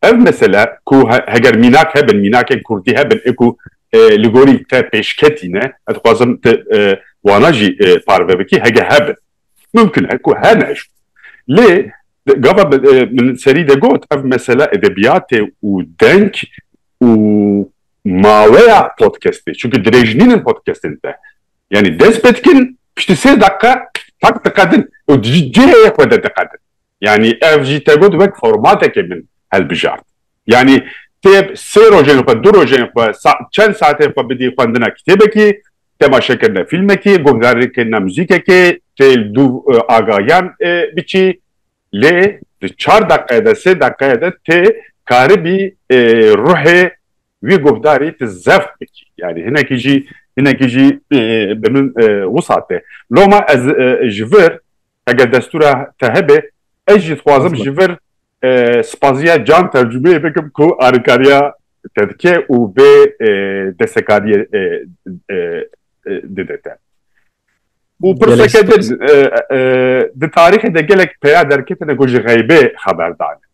ev mesele ku heger mînak hebin mînakên kurdî hebin ê ku li gorî te pêşketî ne ez dixwazim tu wana jî parve bikî hege hebin mimkin e ku hene jî lê gava min serî de got ev mesele edebiyatê û deng û Maweya podcastê çunku dirêj nînin podcastên te yanî dest pê dikin piştî sê deqe qak diqedin û di cihê xwe de diqedin yanî ev jî te got wek formatekê min hilbijart yanî tê sê rojên xwe du rojên xwe çend saetên xwe bidî xwendina kitêbekî temaşekirina fîlmekî guhdarîkirina muzîkekê tê li du agahiyan biçî Lê di çar deqe de sê deqe de tê karibî ruhê wî guhdarî ti zeft bikî. Yanî hinekî jî hinekî jî bi min wisa tê. Loma ez ji vir heger destûra te hebe ez jî dixwazim ji vir spazîya can tercûmeyê bikim ku alîkariya te dike û vê destekarîyê dide te. û pirseke din di tarîxê de gelek peya derketine ku ji xeybê xeber dane.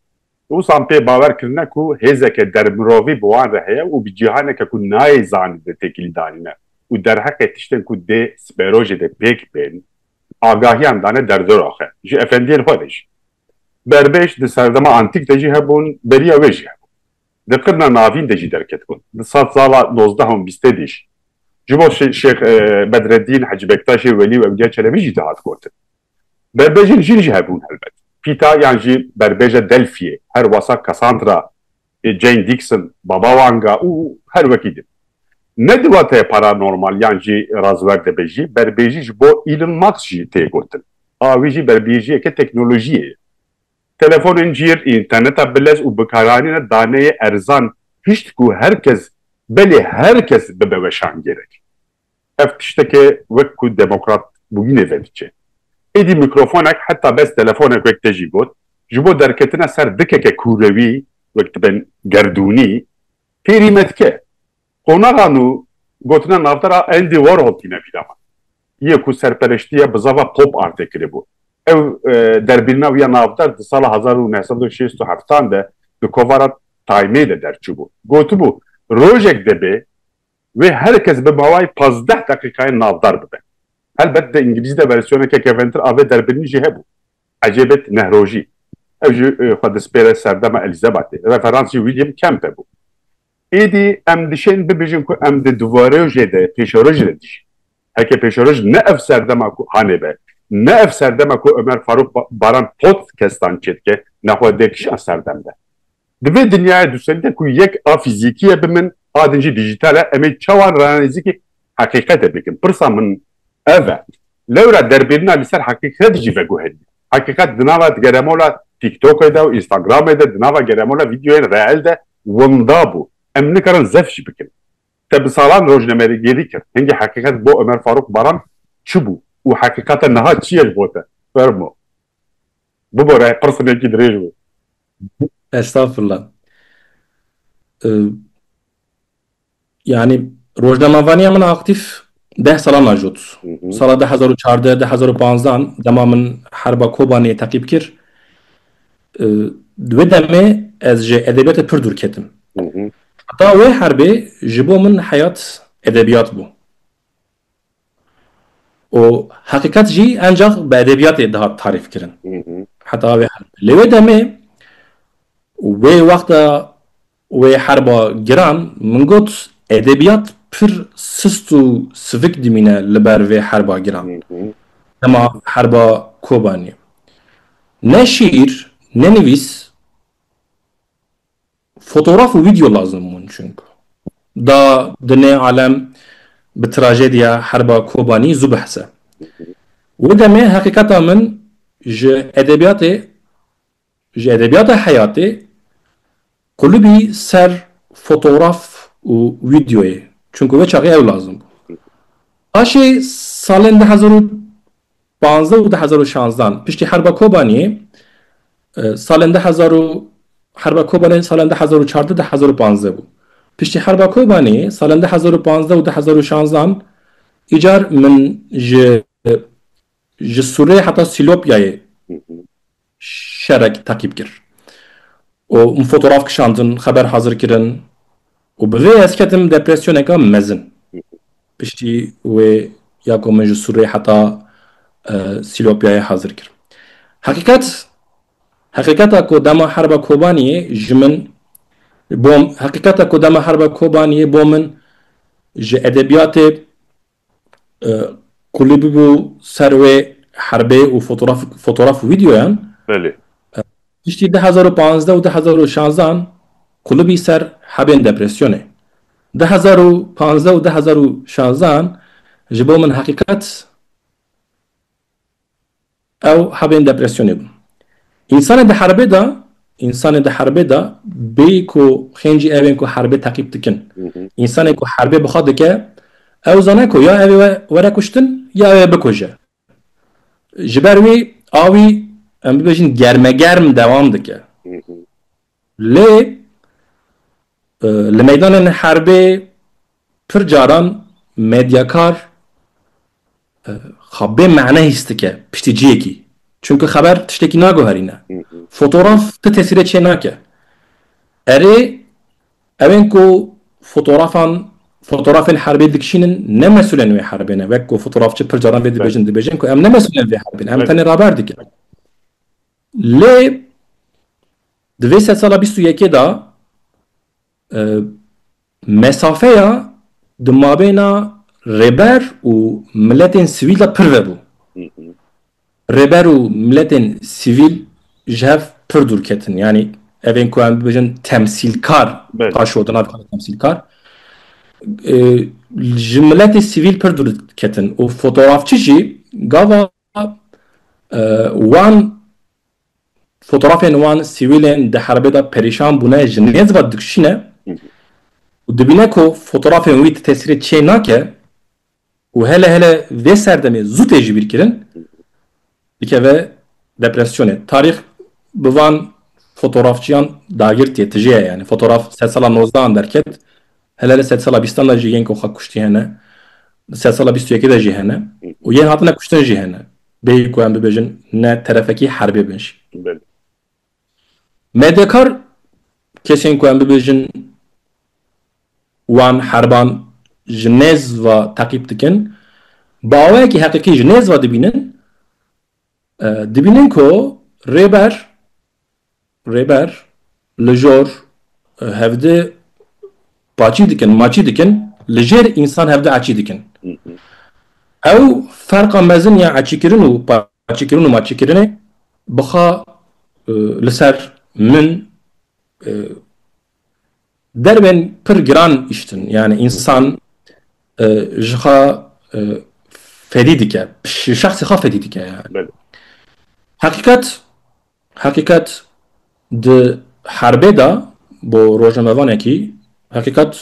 Wisan pê bawer kirine ku hêzeke dermirovî bi wan re heye û bi cîhaneke ku nayê zanîn de têkilî danîne û derheqê tiştên ku dê sibero jê de pêk bên agahiyan dane derdiroxe ji efendiyên xwe de jî. Berbêj di serdema antîk de jî hebûn, beriya wê jî hebû. di qirna navîn de jî derketibûn. Di sed sala nozdeh û bîstê de jî ji bo Şêx Bedreddîn, Hecî Bektaşê Welî û Ewliya Çelebî jî dihat gotin. Berbejên jin jî hebûn helbet. Pîta yan jî berbêja Delfiyê her wasa Cassandra, Jane Dixon, Baba Wanga û her wekî din. Ne di wateyê paranormal yan jî razwer de be jî berbêjî ji bo Elon Musk jî tê gotin. A wî jî berbêjiyeke teknolojiyê ye. Telefonên cîr, înterneta bilez û bikaranîna daneyê erzan hişt ku her kes, belê her kes bibe weşangêrek. Ev tişteke wek ku demokrat bûyînê vediçe. Êdî mîkrofonek heta bes telefonek wek te jî got, ji bo derketina ser dikeke kûrewî wek dibe gerdûnî, têrî me dike. Qonaxa nû gotina navbera Andy Warhol tîne vîra min. Yê ku serpereştiye bi zava pop artê kiribû. Ew derbîrina wî ya navber di sala hezar û neh sed û şêst û heft an de di kovara Time-ê de derçûbû. Gotibû, rojek dibê wê her kes bi mawayê pazdeh deqîqayan navber bibe. Helbet di îngilîzî de versiyoneke keventir a vê derbîrinî jî hebû. Ecê bêt nehrojî. Ew jî xwe dispêre serdema Elîzabatê. Referansî William Kemp hebû. Êdî em dişên bibêjin ku em di duvarojê de pêşerojê de dijîn. Heke pêşeroj ne ev serdema ku hanê be, ne ev serdema ku Omer Farûk Baran pot kestan çê dike ne xwe dê kişan ser dem de. Di vê dinyaya dûserî de ku yek a fîzîkî ye bi min a din jî dîjîtal e em ê çawa ranezîkî heqîqetê bikin? Pirsa min ev e. Lewra derbêrina li ser heqîqet jî veguherîne. Heqîqet di nava geremola TikTokê de û Instagramê de, di nava geremola vîdeoyên reel de winda bû. Em nikarin zef jî bikin. Te bi salan rojnamerêgêrî kir. Hingî heqîqet bo Omer Farûq Baran çi bû û heqîqeta niha çi ye ji bo te? Fermo. Bibore, qirsinekî dirêj bû. Estağfurullah. Yanî rojnamavaniya min aktîf deh salan a jot. Sala du hezar û çardeh du hezar û panzdan dema min herba Kobaniyê teqîb kir di wê demê ez ji edebiyatê pir dûr ketim. Heta wê herbê ji bo min heyat edebiyat bû. Û heqîqet jî encax bi edebiyatê dihat tarîf kirin. Heta wê herbê. Lê wê demê wê wexta Wê herba giran min got edebiyat pir sist û sivik dimîne li ber vê herba giran. Dema herba Kobanî ne şîîr ne nivîs fotograf û video lazim bûn çunku da di nê alem bi trajediya herba Kobanî zû behse. Wê demê heqîqeta min ji edebiyatê Ji edebiyata heyatê qulubî ser fotograf û wîdeoyê çunku wê çaxê ew lazim bû. Paşê salên du hezar û panzdeh û du hezar û şanzdan piştî herba Kobaniyê salên du hezar û herba Kobanê salên du hezar û çardeh du hezar û panzdeh bû. Piştî herba Kobaniyê salên du hezar û panzdeh û du hezar û şanzdan îcar min ji ji Sûrê heta Sîlopyayê şerek teqîb kir û min fotoraf kişandin, xeber hazir kirin û bi vê ez ketim depresyoneka mezin. Piştî wê ya ku min ji Sûrê heta Sîlopyayê hazir kir. Heqîqet, heqîqeta ku dema herba Kobaniyê ji min bo heqîqeta ku dema herba Kobaniyê bo min ji edebiyatê Kulî bûbû ser wê herbê û fotoraf û vîdyoyan. Belê. Piştî du hezar û panzdeh û du hezar û şanzan kulî bî ser hebên depresyonê. Du hezar û panzdeh û du hezar û şanzan ji bo min heqîqet Ew hebên depresyonê bûn. Însanê di herbê de, însanê di herbê de bê ku xêncî ew ên ku herbê teqîb dikin. Însanê ku herbê bi xwe dike, ew zane ku ya ew ê were kuştin ya ew ê bikuje. Ji ber wê awî em bibêjin germegerm dewam dike. Lê li meydanên herbê pir caran medyakar xwe bê mane hîs dike piştî ciyekî. Çimkî xeber tiştekî naguherîne. Fotograf ti tesîrê çê nake. Erê ew ên ku fotografan fotografên herbê dikişînin ne mesûlên wê herbê ne. Wek ku fotografçi pir caran vê dibêjin dibêjin ku em ne mesûlên vê herbê ne. Em tenê raber dikin. Lê di vê sedsala bîst û yekê de mesafeya di mabêna rêber û miletên sivîl de pir vebû. Rêber û miletên sivîl ji hev pir dûr ketin. Yanî ev ên ku em bibêjin temsîlkar paşo di nav xwe de temsîlkar ji miletê sivîl pir dûr ketin û fotografçî jî gava wan fotoğrafên wan sîwîlên di herbê de perîşan bûne ji nêz ve dikişîne û dibîne ku fotoğrafên wî di tesîrê çê nake û hele hele vê serdemê zû tê ji bîr kirin dikeve depresyonê. Tarîx bi van fotoğrafçiyan dagirtiye tije ye yani fotoğraf sedsala nozdehan derket Hene li sedsala bîstan de jî yên ku xwe kuştî hene, li sedsala bîst û yekê de jî hene û yên hatine kuştin jî hene. Bêyî ku em bibêjin ne terefekî herbê bin jî. Medyakar kesên ku em bibêjin wan herban ji nêz ve teqîb dikin, bi awayekî heqîqî ji nêz ve dibînin Dibînin ku Rêber Rêber li jor hevdi paçî dikin, maçî dikin, li jêr însan hevdi eçî dikin. Ew ferqa mezin ya eçîkirin û paçîkirin û maçîkirinê bixa li ser min Derbên pir giran îştin yani însan ji xwe fedî dike, ji şexsê xwe fedî dike yani. Heqîqet, heqîqet di herbê de bo rojnamevanekî, heqîqet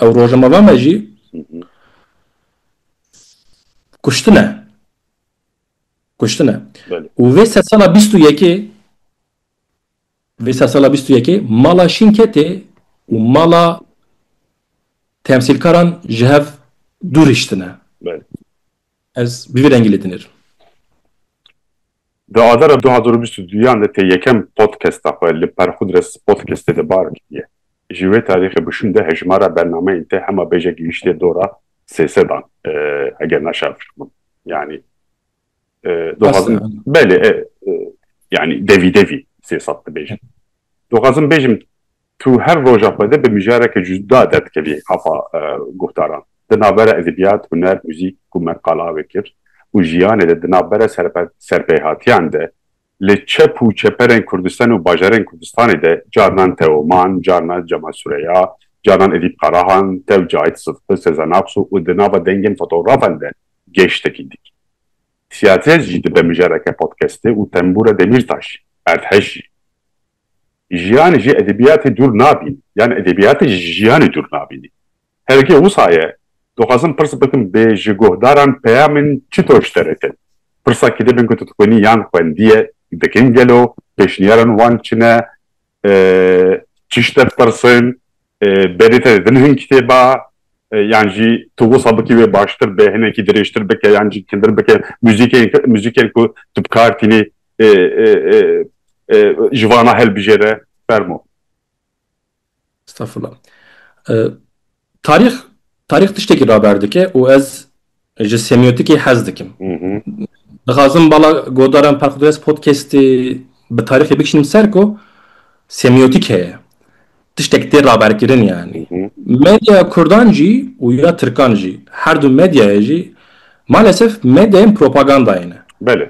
ew rojnamevan me jî kuştine. Kuştine. Û vê sedsala bîst û yekê Vê sersala bîst û yekê mala Şinketê û mala temsîlkaran ji hev dûr hiştine. Ez bi vî rengî lê dinêr. Di adara du hezar û bîst û duyan de tê yekem podkesta xwe li Perxudres Podkestê de bar kiriye. Ji wê tarîxê bûşûn de hejmara bernameyên te hema bêje gihiştiye dora sê sedan eger naşafiq bûn. Yanî Doxazim belê yani devî devî sê sat dibêjin. Doxazim bêjim tu her roja xwe de bi mijareke cuda derdikelî afa guhdaran. Di navbera edebiyat, huner, muzîk ku me qala wê kir û jiyanê de di navbera serpêhatiyan de Li çep û çeperên Kurdistan û bajarên Kurdistanê de carnan Teoman, carna Cemal Sureya, carnan Edîp Karahan, tew Cahit Sıdqı, Sezen Aksu û di nava dengên fotografan de gêştekî dikî. Siyaset jî dibe mijareke podcastê û tembûra Demîrtaş, erdhej jî. Jiyan ji edebiyatê dûr nabîn yan edebiyatê ji jiyanê dûr nabînî. Herikê wisa ye. Dixwazim pirs bikim bê ji guhdaran peyamên çitor ji te re ket? Pirsa kitêbên ku tu dixwînî yan xwendiye dikin gelo? Pêşniyarên wan çi ne? Çi ji te dipirsin? Berê te didin hin kitêba? Yan jî tu wisa bikî wê baştir be, hinekî dirêjtir bike yan jî kindir bike? Muzîkên muzîkên ku tu bi kar tînî ji vana hilbijêre? Fermo. Estağfurullah. Tarîx, tarîx tiştekî raber dike û ez ji semîyotikê hez dikim. Dixwazim bala godaran Perxudres Podcastê bi tarîxê bikişînim ser ku semîyotîk heye. Tiştek tê raberkirin yanî. Medya kurdan jî û ya tirkan jî, her du medyayê jî malesef medyayên propagandayê ne. Belê.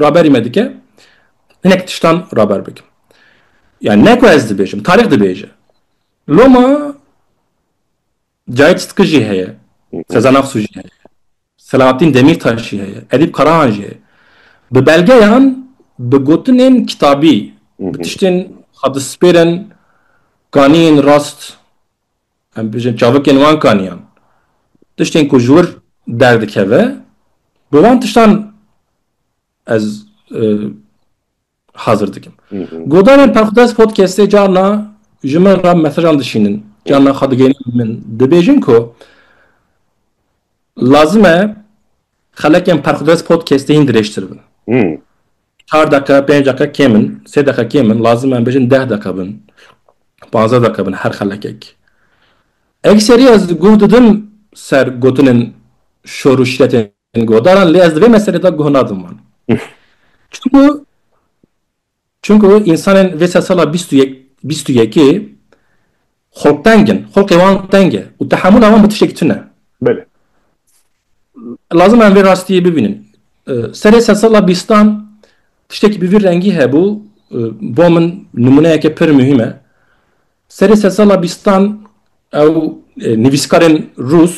raberî me dike hinek tiştan raber bikim. Yani ne ku ez dibêjim, tarîx dibêje. Loma Cahit Sıtkı jî heye, Sezen Aksu jî heye, Selahattin Demirtaş jî heye, Edîp Karahan jî heye. Bi belgeyan, bi gotinên kitabî, bi tiştên xwe dispêrin, ganiyên rast Em dibêjin çavikên wan kaniyan. Tiştên ku ji wir derdikeve bi wan tiştan ez hazir dikim. Godanên Perxudest Podcastê carna ji min re mesajan dişînin, carna xwe digihînin min. Dibêjin ku lazim e Xelekên Perxudez Podcastê hîn dirêjtir bin. Çar deqe, pênc deqe kêm in, sê deqe kêm in, lazim e em bêjin deh deqe bin, panzdeh deqe bin her xelekek. Ekserî ez guh didim ser gotinên şor û şîretên guhdaran lê ez di vê meselê de guh nadim wan. Çimku Çimku însanên vê sedsala bîst û yek bîst û yekê xulqteng in, xulqê wan teng e û tehemûla wan bi tiştekî tune. Belê. Lazim e em vê rastiyê bibînin. Serê sedsala bîstan tiştekî bi vî rengî hebû, bo min nimûneyeke pir muhîm e. Serê sedsala bîstan ew nivîskarên rûs,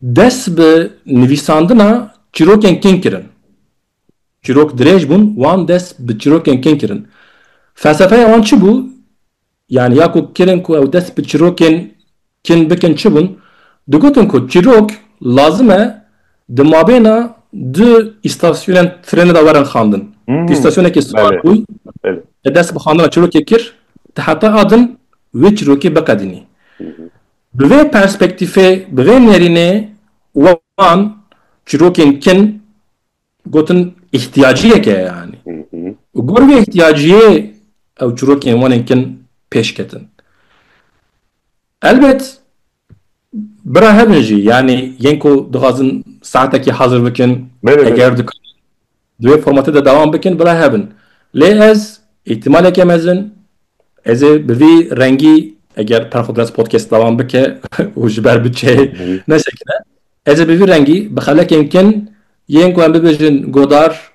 Dest bi nivîsandina çîrokên kin kirin. Çîrok dirêj bûn, wan dest bi çîrokên kin kirin. Felsefeya wan çi bû? Yanî ya ku kirin ku ew dest bi çîrokên kin bikin çi bûn? Digotin ku çîrok lazim e di mabêna du îstasyonên trênê de werin xandin. Di îstasyonekî siwar bûy e dest bi xandina çîrokê kir, ti heta a din wê çîrokê biqedînî. Bi vê perspektîfê, bi vê nêrînê wan çîrokên kin gotin îhtiyaciyek e yanî û gor vê îhtiyaciyê ew çîrokên wanên kin pêş ketin. Elbet bira hebin jî yanî yên ku dixwazin saetekî hazir bikin eger dikarin Di vê formatê de dewam bikin bila hebin. Lê ez îhtimaleke mezin ez ê bi vî rengî eger Perxo Biraz podcast dewam bike û ji ber bütçeyê nesekine ez ê bi vî rengî bi xelekên kin yên ku em bibêjin godar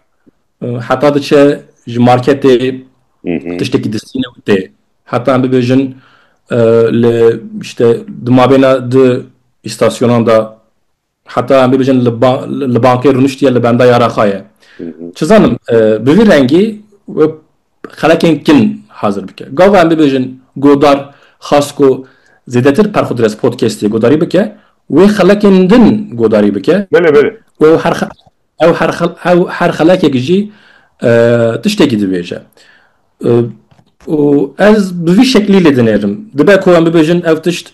heta diçe ji marketê tiştekî distîne û tê heta em bibêjin li işte di mabêna di îstasyonan de Heta em bibêjin li bankê rûniştiye li benda ya rexa ye. Çizanim bi vî rengî wê xelekên kin hazir bike. Gava em bibêjin Godar xwest ku zêdetir Perxudres Podcastê guhdarî bike, wê xelekên din guhdarî bike û ew her ew her ew her xelekek jî tiştekî dibêje. Û ez bi vî şeklî lê dinêrim. Dibe ku em bibêjin ev tişt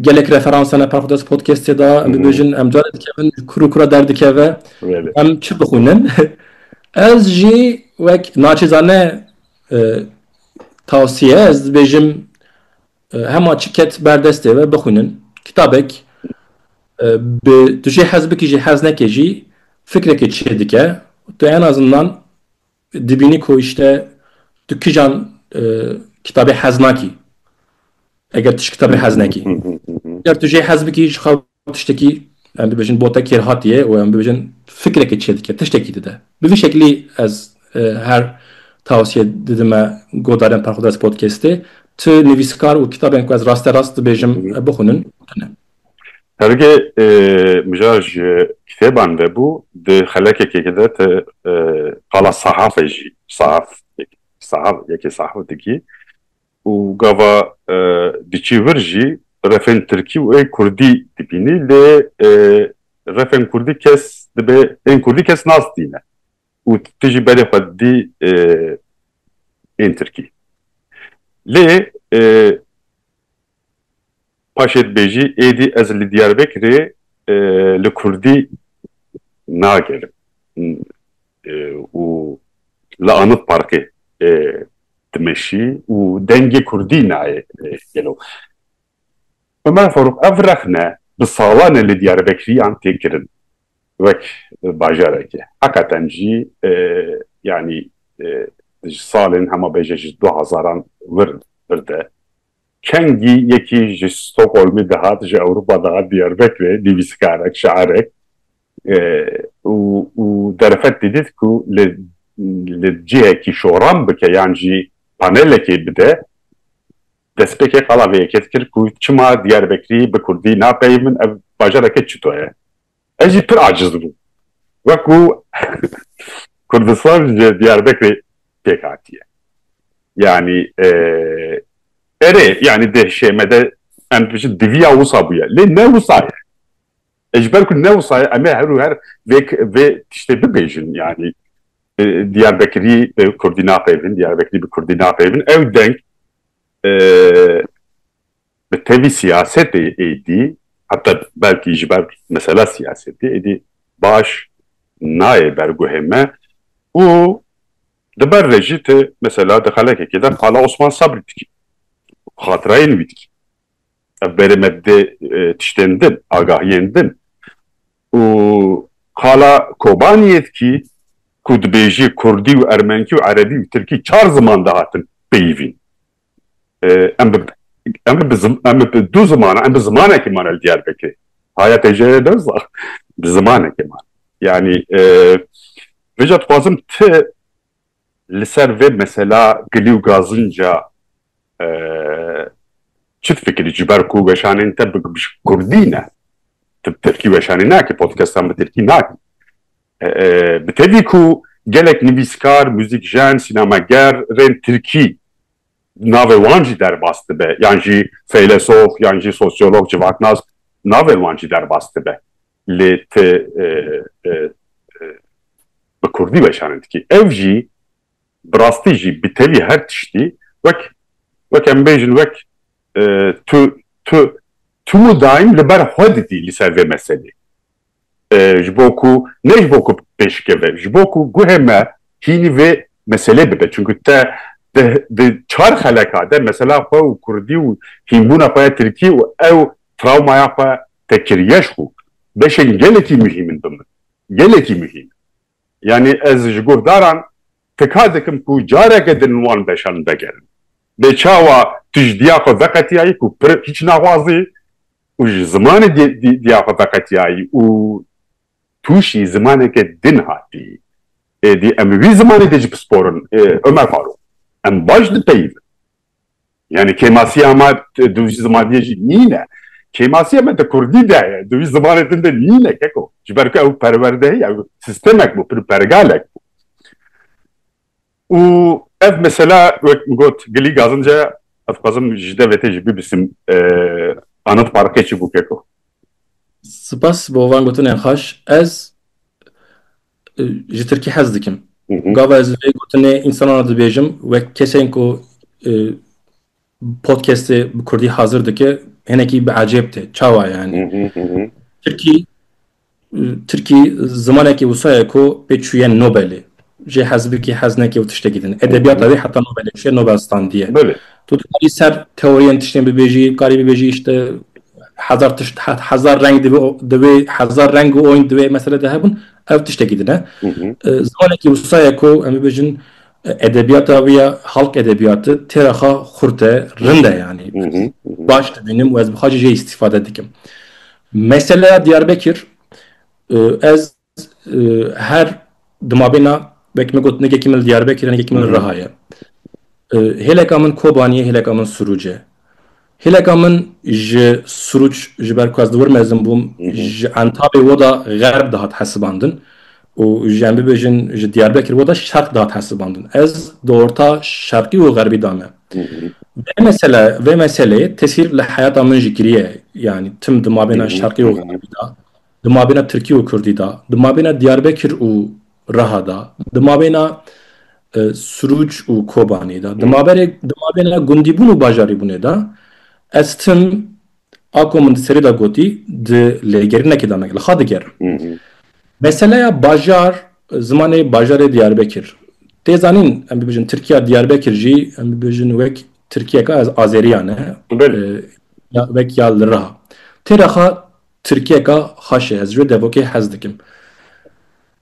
Gelek referans hene Parxodas Podcast'ê de em dibêjin em carê dikevin ji kur û kura derdikeve em çi bixwînin. Ez jî wek naçîzane tavsiye ez dibêjim hema çi ket ber destê we bixwînin. Kitabek bi tu jê hez bikî jê hez nekê jî fikrekê çêdike. Tu en azimdan Dibînî ku îşte tu kijan kitabê hez nakî eger tu ji kitabê hez nekî. Eger tu jê hez bikî ji xwe tiştekî em bibêjin bote kêrhatiyê û em bibêjin fikrekê çê dike, tiştekî dide. Bi vî şeklî ez her tawsiye didime guhdarên Perxwdes Podcastê, tu nivîskar û kitabên ku ez raste rast dibêjim bixwînin. Hergê mijar ji kitêban vebû di xelekekê de ti qala sahafê jî sahaf sahaf yekê sahaf dikî û gava diçî vir jî refên tirkî û ên kurdî dibînî lê refên kurdî kes dibê ên kurdî kes nas dîne û ti jî berê xwe didî ên tirkî lê Paşê dibêjî êdî ez li Diyarbekirê li kurdî nagerim û li Anıt Parkê dimeşî û dengê kurdî nayê gelo. Ömer Faruk, ev rexne bi salan e li Diyarbekiriyan tê kirin wek bajarekê. Heqeten jî yanî ji salên hema bêje ji du hezaran wir de Çengî yekî ji Stockholmê dihat, ji Ewropa dihat Diyarbekirê, nivîskarek, şairek û derfet didît ku li li cihekî şoran bike yan jî panelekê bide, destpêkê qala vê yekê dikir ku çima Diyarbekirî bi kurdî napeyimin, ev bajareke çito ye? Ez jî pir aciz dibûm. Wekû Kurdistan ji Diyarbekirê pêk hatiye. Yanî erê yanî di hişê me de em dibêjin diviya wisa bûye. Lê ne wisa ye. E ji ber ku ne wisa ye em ê her û her vê vê tiştê bibêjin yanî Diyarbekirî bi Kurdî napeyivin, Diyarbekirî bi Kurdî napeyivin. Ew deng Bi tevî siyasetê êdî heta belkî ji ber mesela siyasetê êdî baş nayê berguhê me û di ber ve jî tu mesela di xelekekê de qala Osman Sabrî dikî û xatirayên wî dikî. Ev berê me didê tiştên din, agahiyên din û qala Kobaniyê dikî ku dibêjî kurdî û ermenkî û erebî û tirkî çar ziman dihatin peyivîn. em em em bi du ziman em bi zimanekî mane li Diyarbekirê haya têjeyê dewza bi zimanekê man yanî vêca dixwazim ti li ser vê mesela gilî û gazinca çi fikirî ji ber ku weşanên te bi kurdî ne tu bi tirkî weşanî nakî podcastan bi tirkî nakî Bi tevî ku gelek nivîskar, muzîkjen, sînemager rên tirkî navê wan jî derbas dibe yan jî feylesof yan jî sosyolog civaknas navê wan jî derbas dibe lê ti bi kurdî weşanin dikî ev jî bi rastî jî bi tevî her tiştî wek wek em bêjin wek tu tu tu daîm li ber xwe didî li ser vê meselê ji bo ku ne ji bo ku pêşikeve ji bo ku guhê me hînî vê meselê bibe çunku te di çar xeleka de mesela xwe û kurdî û hînbûna xwe ya tirkî û ew trawmaya xwe te kiriye ji xwe beşên gelekî muhîm in bi min gelekî muhîm in yanî ez ji guhdaran tika dikim ku careke din wan beşan vegerin lê çawa tu ji diya xwe veqetiyayî ku pir hîç naxwazî û ji zimanê dîya xwe veqetiyayî û tûşî zimaneke din hatî. Êdî em li wî zimanê dê jî pisporin, Omer Farûq, em baş dipeyivin. Yanî kêmasiya me di wî zimanê jî nîne. Kêmasiya me di kurdî de ye, di wî zimanê din de nîne keko. Ji ber ku ew perwerdeyî, ew sistemek bû, pergalek bû. Û ev mesela wek min got Gilî Gazince ye, ez dixwazim ji de vê tê jî bibîsim Anıt Parkê çi bû keko. Spas bo van gotinên xweş. Ez ji tirkî hez dikim. Gava ez vê gotinê însanan re dibêjim wek kesên ku Podcastê bi kurdî hazir dike hinekî bi ecêb tê. Çawa yanî? Tirkî Tirkî zimanekî wisa ye ku pê çûye Nobelê. Jê hez bikî hez nekî û tiştekî din. Edebiyata wê heta Nobelê çûye Nobel standiye. Tu dikarî ser teoriyên tiştên bibêjî, dikarî bibêjî işte hezar tişt hezar reng divê hezar reng û oynd divê mesele de hebûn ev tiştekî din e. Zimanekî wisa ye ku em bibêjin Edebiyata wî ya halk edebiyati têra xwe xurt e, rind e yanî. Baş dibînim û ez bi xwe jî jê îstîfade dikim. Meseleya Diyarbekir ez her di mabêna wekî me got nigekî min li Diyarbekir e nigekî min li Riha ye. Hêleka min Kobanî ye, hêleka min Sûrûc e. Hêleka min ji Sûrûç ji ber ku ez li wir mezin bûm ji Entabê we da Xerb dihat hesibandin û ji em bibêjin ji Diyarbekir we da Şerq dihat hesibandin. Ez di orta Şerqî û Xerbî da me. Vê mesele vê meseleyê tesîr li heyata min jî kiriye. Yanî tim di mabêna Şerqî û Xerbî da, di mabêna Tirkî û Kurdî da, di mabêna Diyarbekir û reha da, di mabêna Sirûc û Kobanê de, di maberê di mabêna gundîbûn û bajarîbûnê de, ez tim a ku min di serê de gotî di lêgerinekê de me li xwe digerim. Meseleya bajar, zimanê bajarê Diyarbekir. Tê zanîn em bibêjin Tirkiya Diyarbekir jî em bibêjin wek Tirkiyeka ez azeriya ne, wek ya li reha. Tê reha Tirkiyeka xweş e, ez ji wê devokê hez dikim.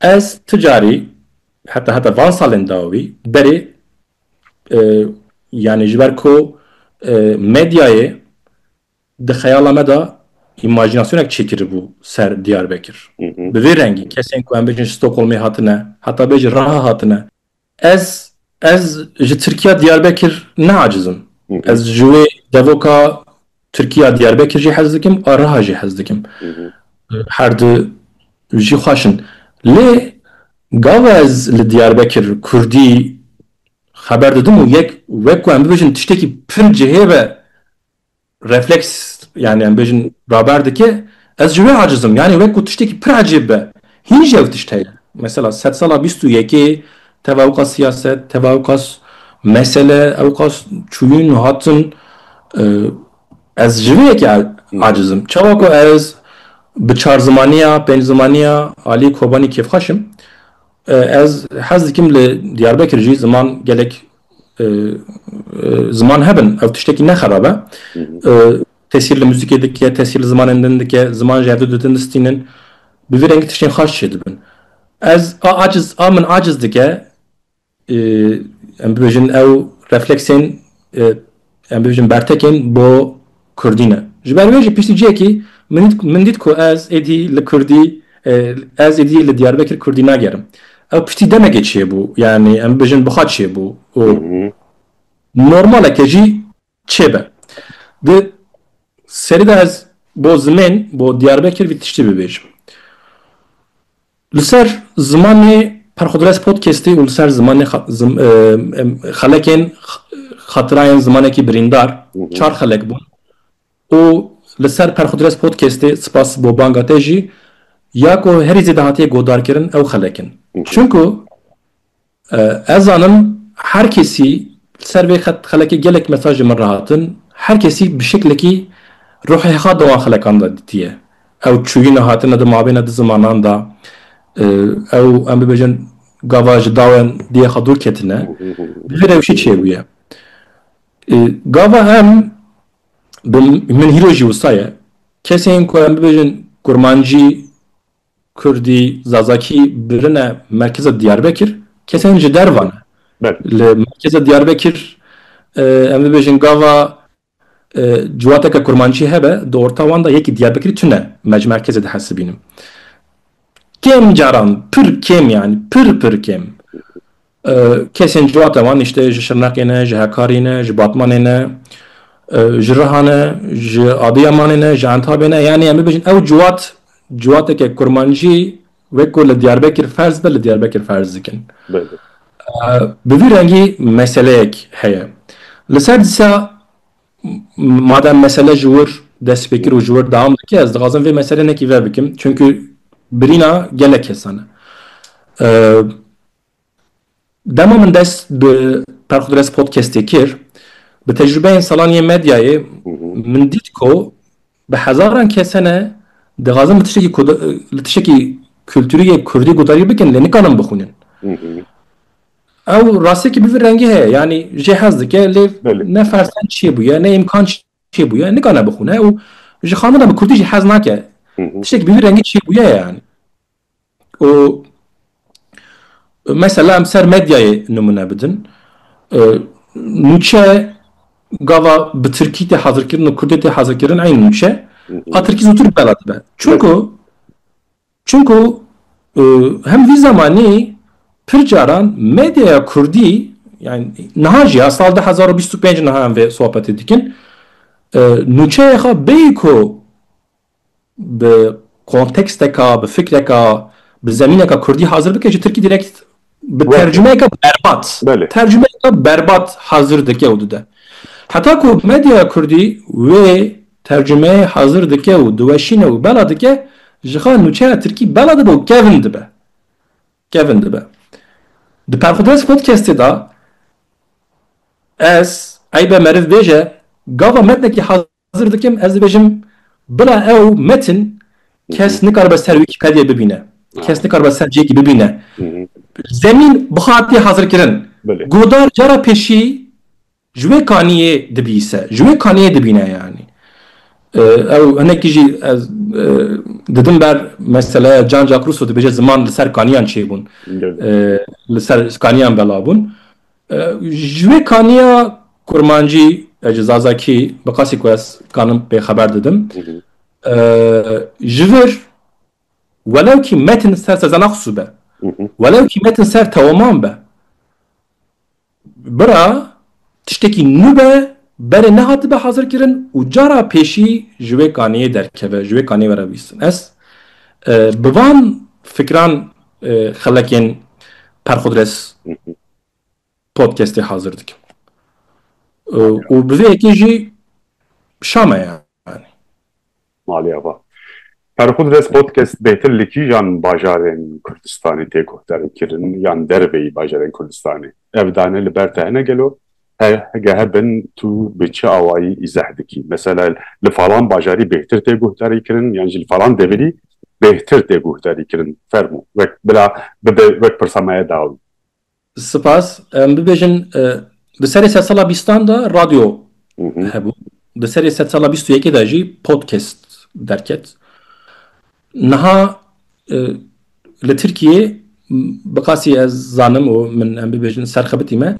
Ez ti carî heta heta van salên dawî berê yanî ji ber ku medyayê di xeyala me de îmajînasyonek çêkiribû ser Diyarbekir. Bi vê rengî kesên ku em bêjin ji Stockholmê hatine, heta bê ji Raha hatine, Ez ez ji Tirkiya Diyarbekir neaciz im. Ez ji wê devoka Tirkiya Diyarbekir jî hez dikim a Riha jî hez dikim. Her di jî xweş in. Lê gava ez li Diyarbekir Kurdî xeber didim û yek wek ku em bibêjin tiştekî pir cihê be Refleks yanî em bêjin raber dike, ez ji wê aciz im, yanî wek ku tiştekî pir ecêb be, hîn jî ew tişt heye. Mesela sed sala bîst û yekê teva ew qas siyaset, teva ew qas mesele, ew qas çûyîn û hatin, ez ji vê yekê aciz im. Çawa ku ez bi çar zimaniya, pênc zimaniya aliyê Kobanî kêfxweş im, Ez hez dikim li Diyarbekir jî ziman gelek ziman hebin. Ev tiştekî ne xerab e. Tesîr li muzîkê dike, tesîr li zimanên din dike, ziman ji hevdu ditin distînin. Bi vî rengî tiştên xaş çêdibin. Ez a aciz a min aciz dike em bibêjin ew refleksên Em dibêjin bertekên bo kurdî ne. Ji ber wê jî piştî cihekî min dît ku ez êdî li kurdî ez êdî li Diyarbekir kurdî nagerim. Ew piştî demekê çêbû yanî em bibêjin biha çêbû û normal e ke jî çêbe. Di serî de ez bo zimên bo Diyarbekir vî tiştî bibêjim. Li ser zimanê Perxwdres Podcastê û li ser zimanê xelekên xatirayên zimanekî birîndar çar xelek bûn û li ser Perxwdres Podcastê sipas bo banga te jî ya ku herî zêde hatiye godarkirin ew xelek in. Çimku Ez zanim her kesî li ser vê xet xelekê gelek mesaj li min re hatin, her kesî bi şeklekî ruhê xwe di wan xelekan de ditiye. Ew çûyîne hatine di mabêna du zimanan de, ew em bibêjin gava ji dawên diyê xwe dûr ketine, bi vê rewşê çêbûye. Gava em bi min hîro jî wisa ye, kesên ku em bibêjin kurmancî, Kurdî, Zazakî birine merkeza Diyarbekir, kesên ji derve ne. Li merkeza Diyarbekir em bibêjin gava ciwateke kurmancî hebe, di orta wan de yekî Diyarbekirî tune merkezê dihesibînin. Kêm caran, pir kêm yanî, pir pir kêm Kesên civata wan îştê ji Şirnexê ne, ji Hekarî ne, ji Batmanê ne, ji Riha ne, ji Adîyamanê ne, ji Entabê ne. Yanî em bibêjin ew ciwat ciwateke kurmancî wek ku li Diyarbekir ferz be li Diyarbekir ferz dikin. Bi vî rengî meseleyek heye. Li ser disa madem mesele ji wir dest pê kir û ji wir dewam dike ez dixwazim vê meselê nekî ve bikim. Çimkî birîna gelek kesan e. Dema min dest bi Perxudres Podcastê kir, bi tecrubeyên salan yên medyayê min dît ku bi hezaran kesene dixwazin bi tiştekî li tiştekî kulturî yê kurdî guhdarî bikin lê nikarin bixwînin. Ew rastiyekî bi vî rengî heye yanî jê hez dike lê ne fersen çê bûye ne îmkan çê bûye nikane bixwîne û ji xanina bi kurdî jî hez nake tiştekî bi vî rengî çê bûye ye yanî. û mesela em ser medyayê nimûne bidin, nûçe gava bi tirkî tê hezirkirin û kurdê tê hezirkirin eyn nûçe a tirkî zûtir bi bela dibe. Çunku çunku hem vî zemanî pir caran medyaya kurdî yan niha jî ya sal du hezar û bîst û pênc niha em vê sohbetê dikin nûçeyê xwe bêyî ku bi konteksteka, bi fikreka, bi zemîneka kurdî hazir bike ji tirkî direkt bi tercumeyeke berbat, tercumeyeke berbat hazir dike û dide. Heta ku medya kurdî wê tercumeyê hazir dike û diweşîne û bela dike jixa nûçeya tirkî bela dibe û kevn dibe. Kevn dibe. Di Perxwedest Podcastê de ez eybe meriv bêje gava metnekî hazir Hazir dikim ez dibêjim bila ew metin kes nikaribe ser wîkîpediyê bibîne, kes nikaribe ser cihekî bibîne. Zemîn bihatiye hazirkirin. Godar cara pêşî ji wê kaniyê dibîse, ji wê kaniyê dibîne yanî. Ew hinekî jî ez didim ber meseleya Jean Jacques Rousseau dibêje ziman li ser kaniyan çêbûn. Li ser kaniyan bela bûn. Ji vê kaniya kurmancî ya ji Zazakî bi qasî ku ez kanim pê xeber didim. Ji vir welewkî metin ser sezana xusû be. Welewkî metin ser tewaman be. Bira tiştekî nû be berê nehatibe hazirkirin û cara pêşî ji wê kaniyê derkeve, ji wê kaniyê were bîstin. Ez bi van fikran xelekên perxudres podcastê hazir dikim. Û bi vê yekê jî şame yani. Malê ava. Ferxud Rez podcast bêtir li kîjan bajarên Kurdistanê tê guhdarî kirin yan dervê yî bajarên Kurdistanê? Ev dane li ber te hene gelo? Hege hebin tu bi çi awayî îzeh dikî? Mesela li falan bajarî bêhtir tê guhdarî kirin yan jî li falan devirî bêhtir tê guhdarî kirin? Fermû. Wek bila bibe wek pirsa me ye dawî. Spas. Em bibêjin bi serê sedsala bîstan de radyo hebû. Bi serê sedsala bîst û yekê de jî podcast derket. Niha li Tirkiyê bi qasî ez zanim û min em bibêjin serxebitî me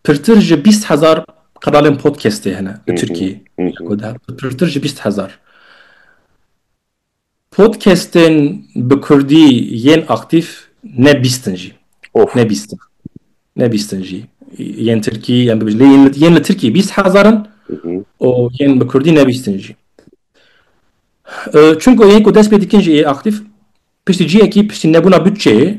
pirtir ji bîst hezar kanalên podcastê hene li Tirkiyê. Pirtir ji bîst hezar. Podcastên bi kurdî yên aktîf ne bîst in jî. Of. Ne bîst in. Ne bîst in jî. Yên tirkî em bibêjin. Lê yên, yên li tirkî bîst hezar in û yên bi kurdî ne bîst in jî. Çunku yên ku dest pê dikin jî ê aktîf piştî cihekî piştî nebûna bütçeyê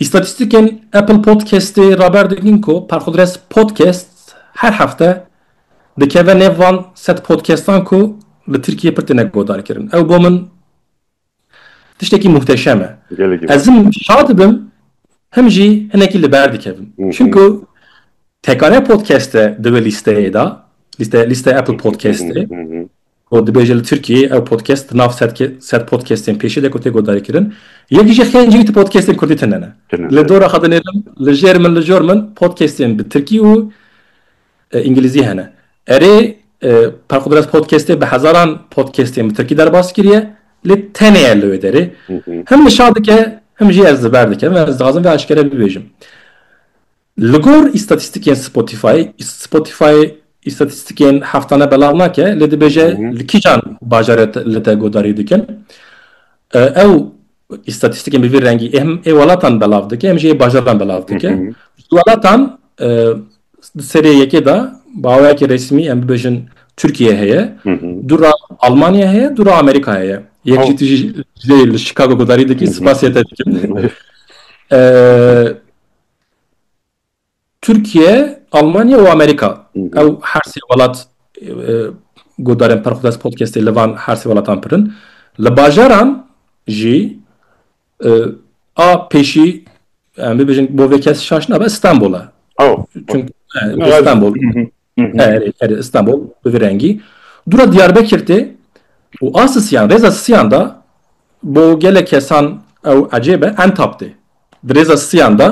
Îstatîstîkên Apple Podcastê raber dikin ku Perxudres Podcast her hefte dikeve nêv van sed podcastan ku li Tirkiyeyê pir têne guhdarkirin. Ew bo min tiştekî muhteşem e. Ez him şa dibim him jî hinekî li ber dikevim. Çimku Tekane Podcast e di wê lîsteyê de, lîste lîste Apple Podcastê. Ku dibêje li Tirkiyeyê ew podcast di nav ser podcastên pêşê de ku tê guhdarîkirin, yekî jî xên cihî tu podcastên kurdî tune ne. Li dora xwe dinêrim, li jêr min li jor min podcastên bi tirkî û îngilîzî hene. Erê, Perqudres podcastê bi hezaran podcastên bi tirkî derbas kiriye, lê tenê li wê derê him nişa dike, him jî ez li ber dikim. Ez dixwazim vê eşkere bibêjim. Li gor îstatîstikên Spotify, Spotify îstatîstikên heftane belav nake lê dibêje li kîjan bajarê li te guhdarî dikin. Ew îstatîstikên bi vî rengî ê him ê welatan belav dike him jî ê bajaran belav dike. Ji welatan di serê yekê de bi awayekî resmî em bibêjin Tirkiye heye, du re Almanya heye, du re Amerîka heye. Yek jî tu jî lê li Chicago guhdarî dikî, spasê te dikim. Tirkiye, Almanya û Amerîka. Ew her sê welat guhdarên Perxwdest Podcastê li van her sê welatan pir in. Li bajaran jî a pêşî em bibêjin bo vê kes şaş nabe Stenbol e. Çimkî Stenbol Erê, erê, Îstanbul bi vî rengî. Dûra Diyarbekir tê û a sisiyan, rêza sisiyan de bo gelek kesan ew ecêb e, Entap tê. Di rêza sisiyan de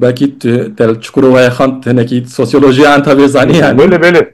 belkî tu te li Çukurovayê xwend, hinekî sosyolojiya Entabê zanî yani. Belê, belê.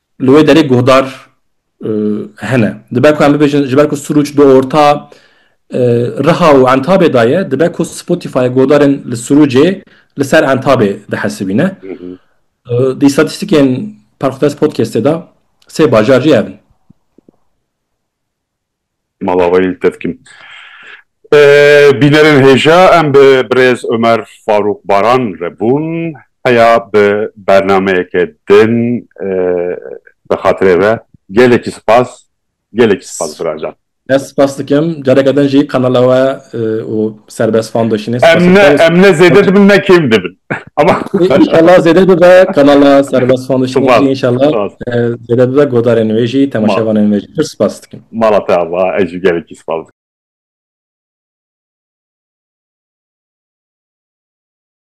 Li wê derê guhdar hene. Dibe ku em bibêjin ji ber ku Sûrûc di orta Riha û Entabê de ye, dibe ku Spotify guhdarên li Sûrûcê li ser Entabê dihesibîne. Di îstatîstîkên Parxudes Podcastê de sê bajar jî hev in. mala wê li te dikim. Bînerên hêja em bi birêz Omer Farûq Baran re bûn. Heya bi bernameyeke din bi xatirê ve gelekî spas, gelekî spas biracan. Ez spas dikim careke din jî kanala we û Serbest Foundationê spas dikim. Em ne zêde dibin ne kêm dibin. Ama inşallah zêde bibe kanala serbest fan dişin jî inşallah zêde bibe godarên wê jî temaşevanên wê jî pir spas dikim. Mala te ava ez jî gelekî spas dikim.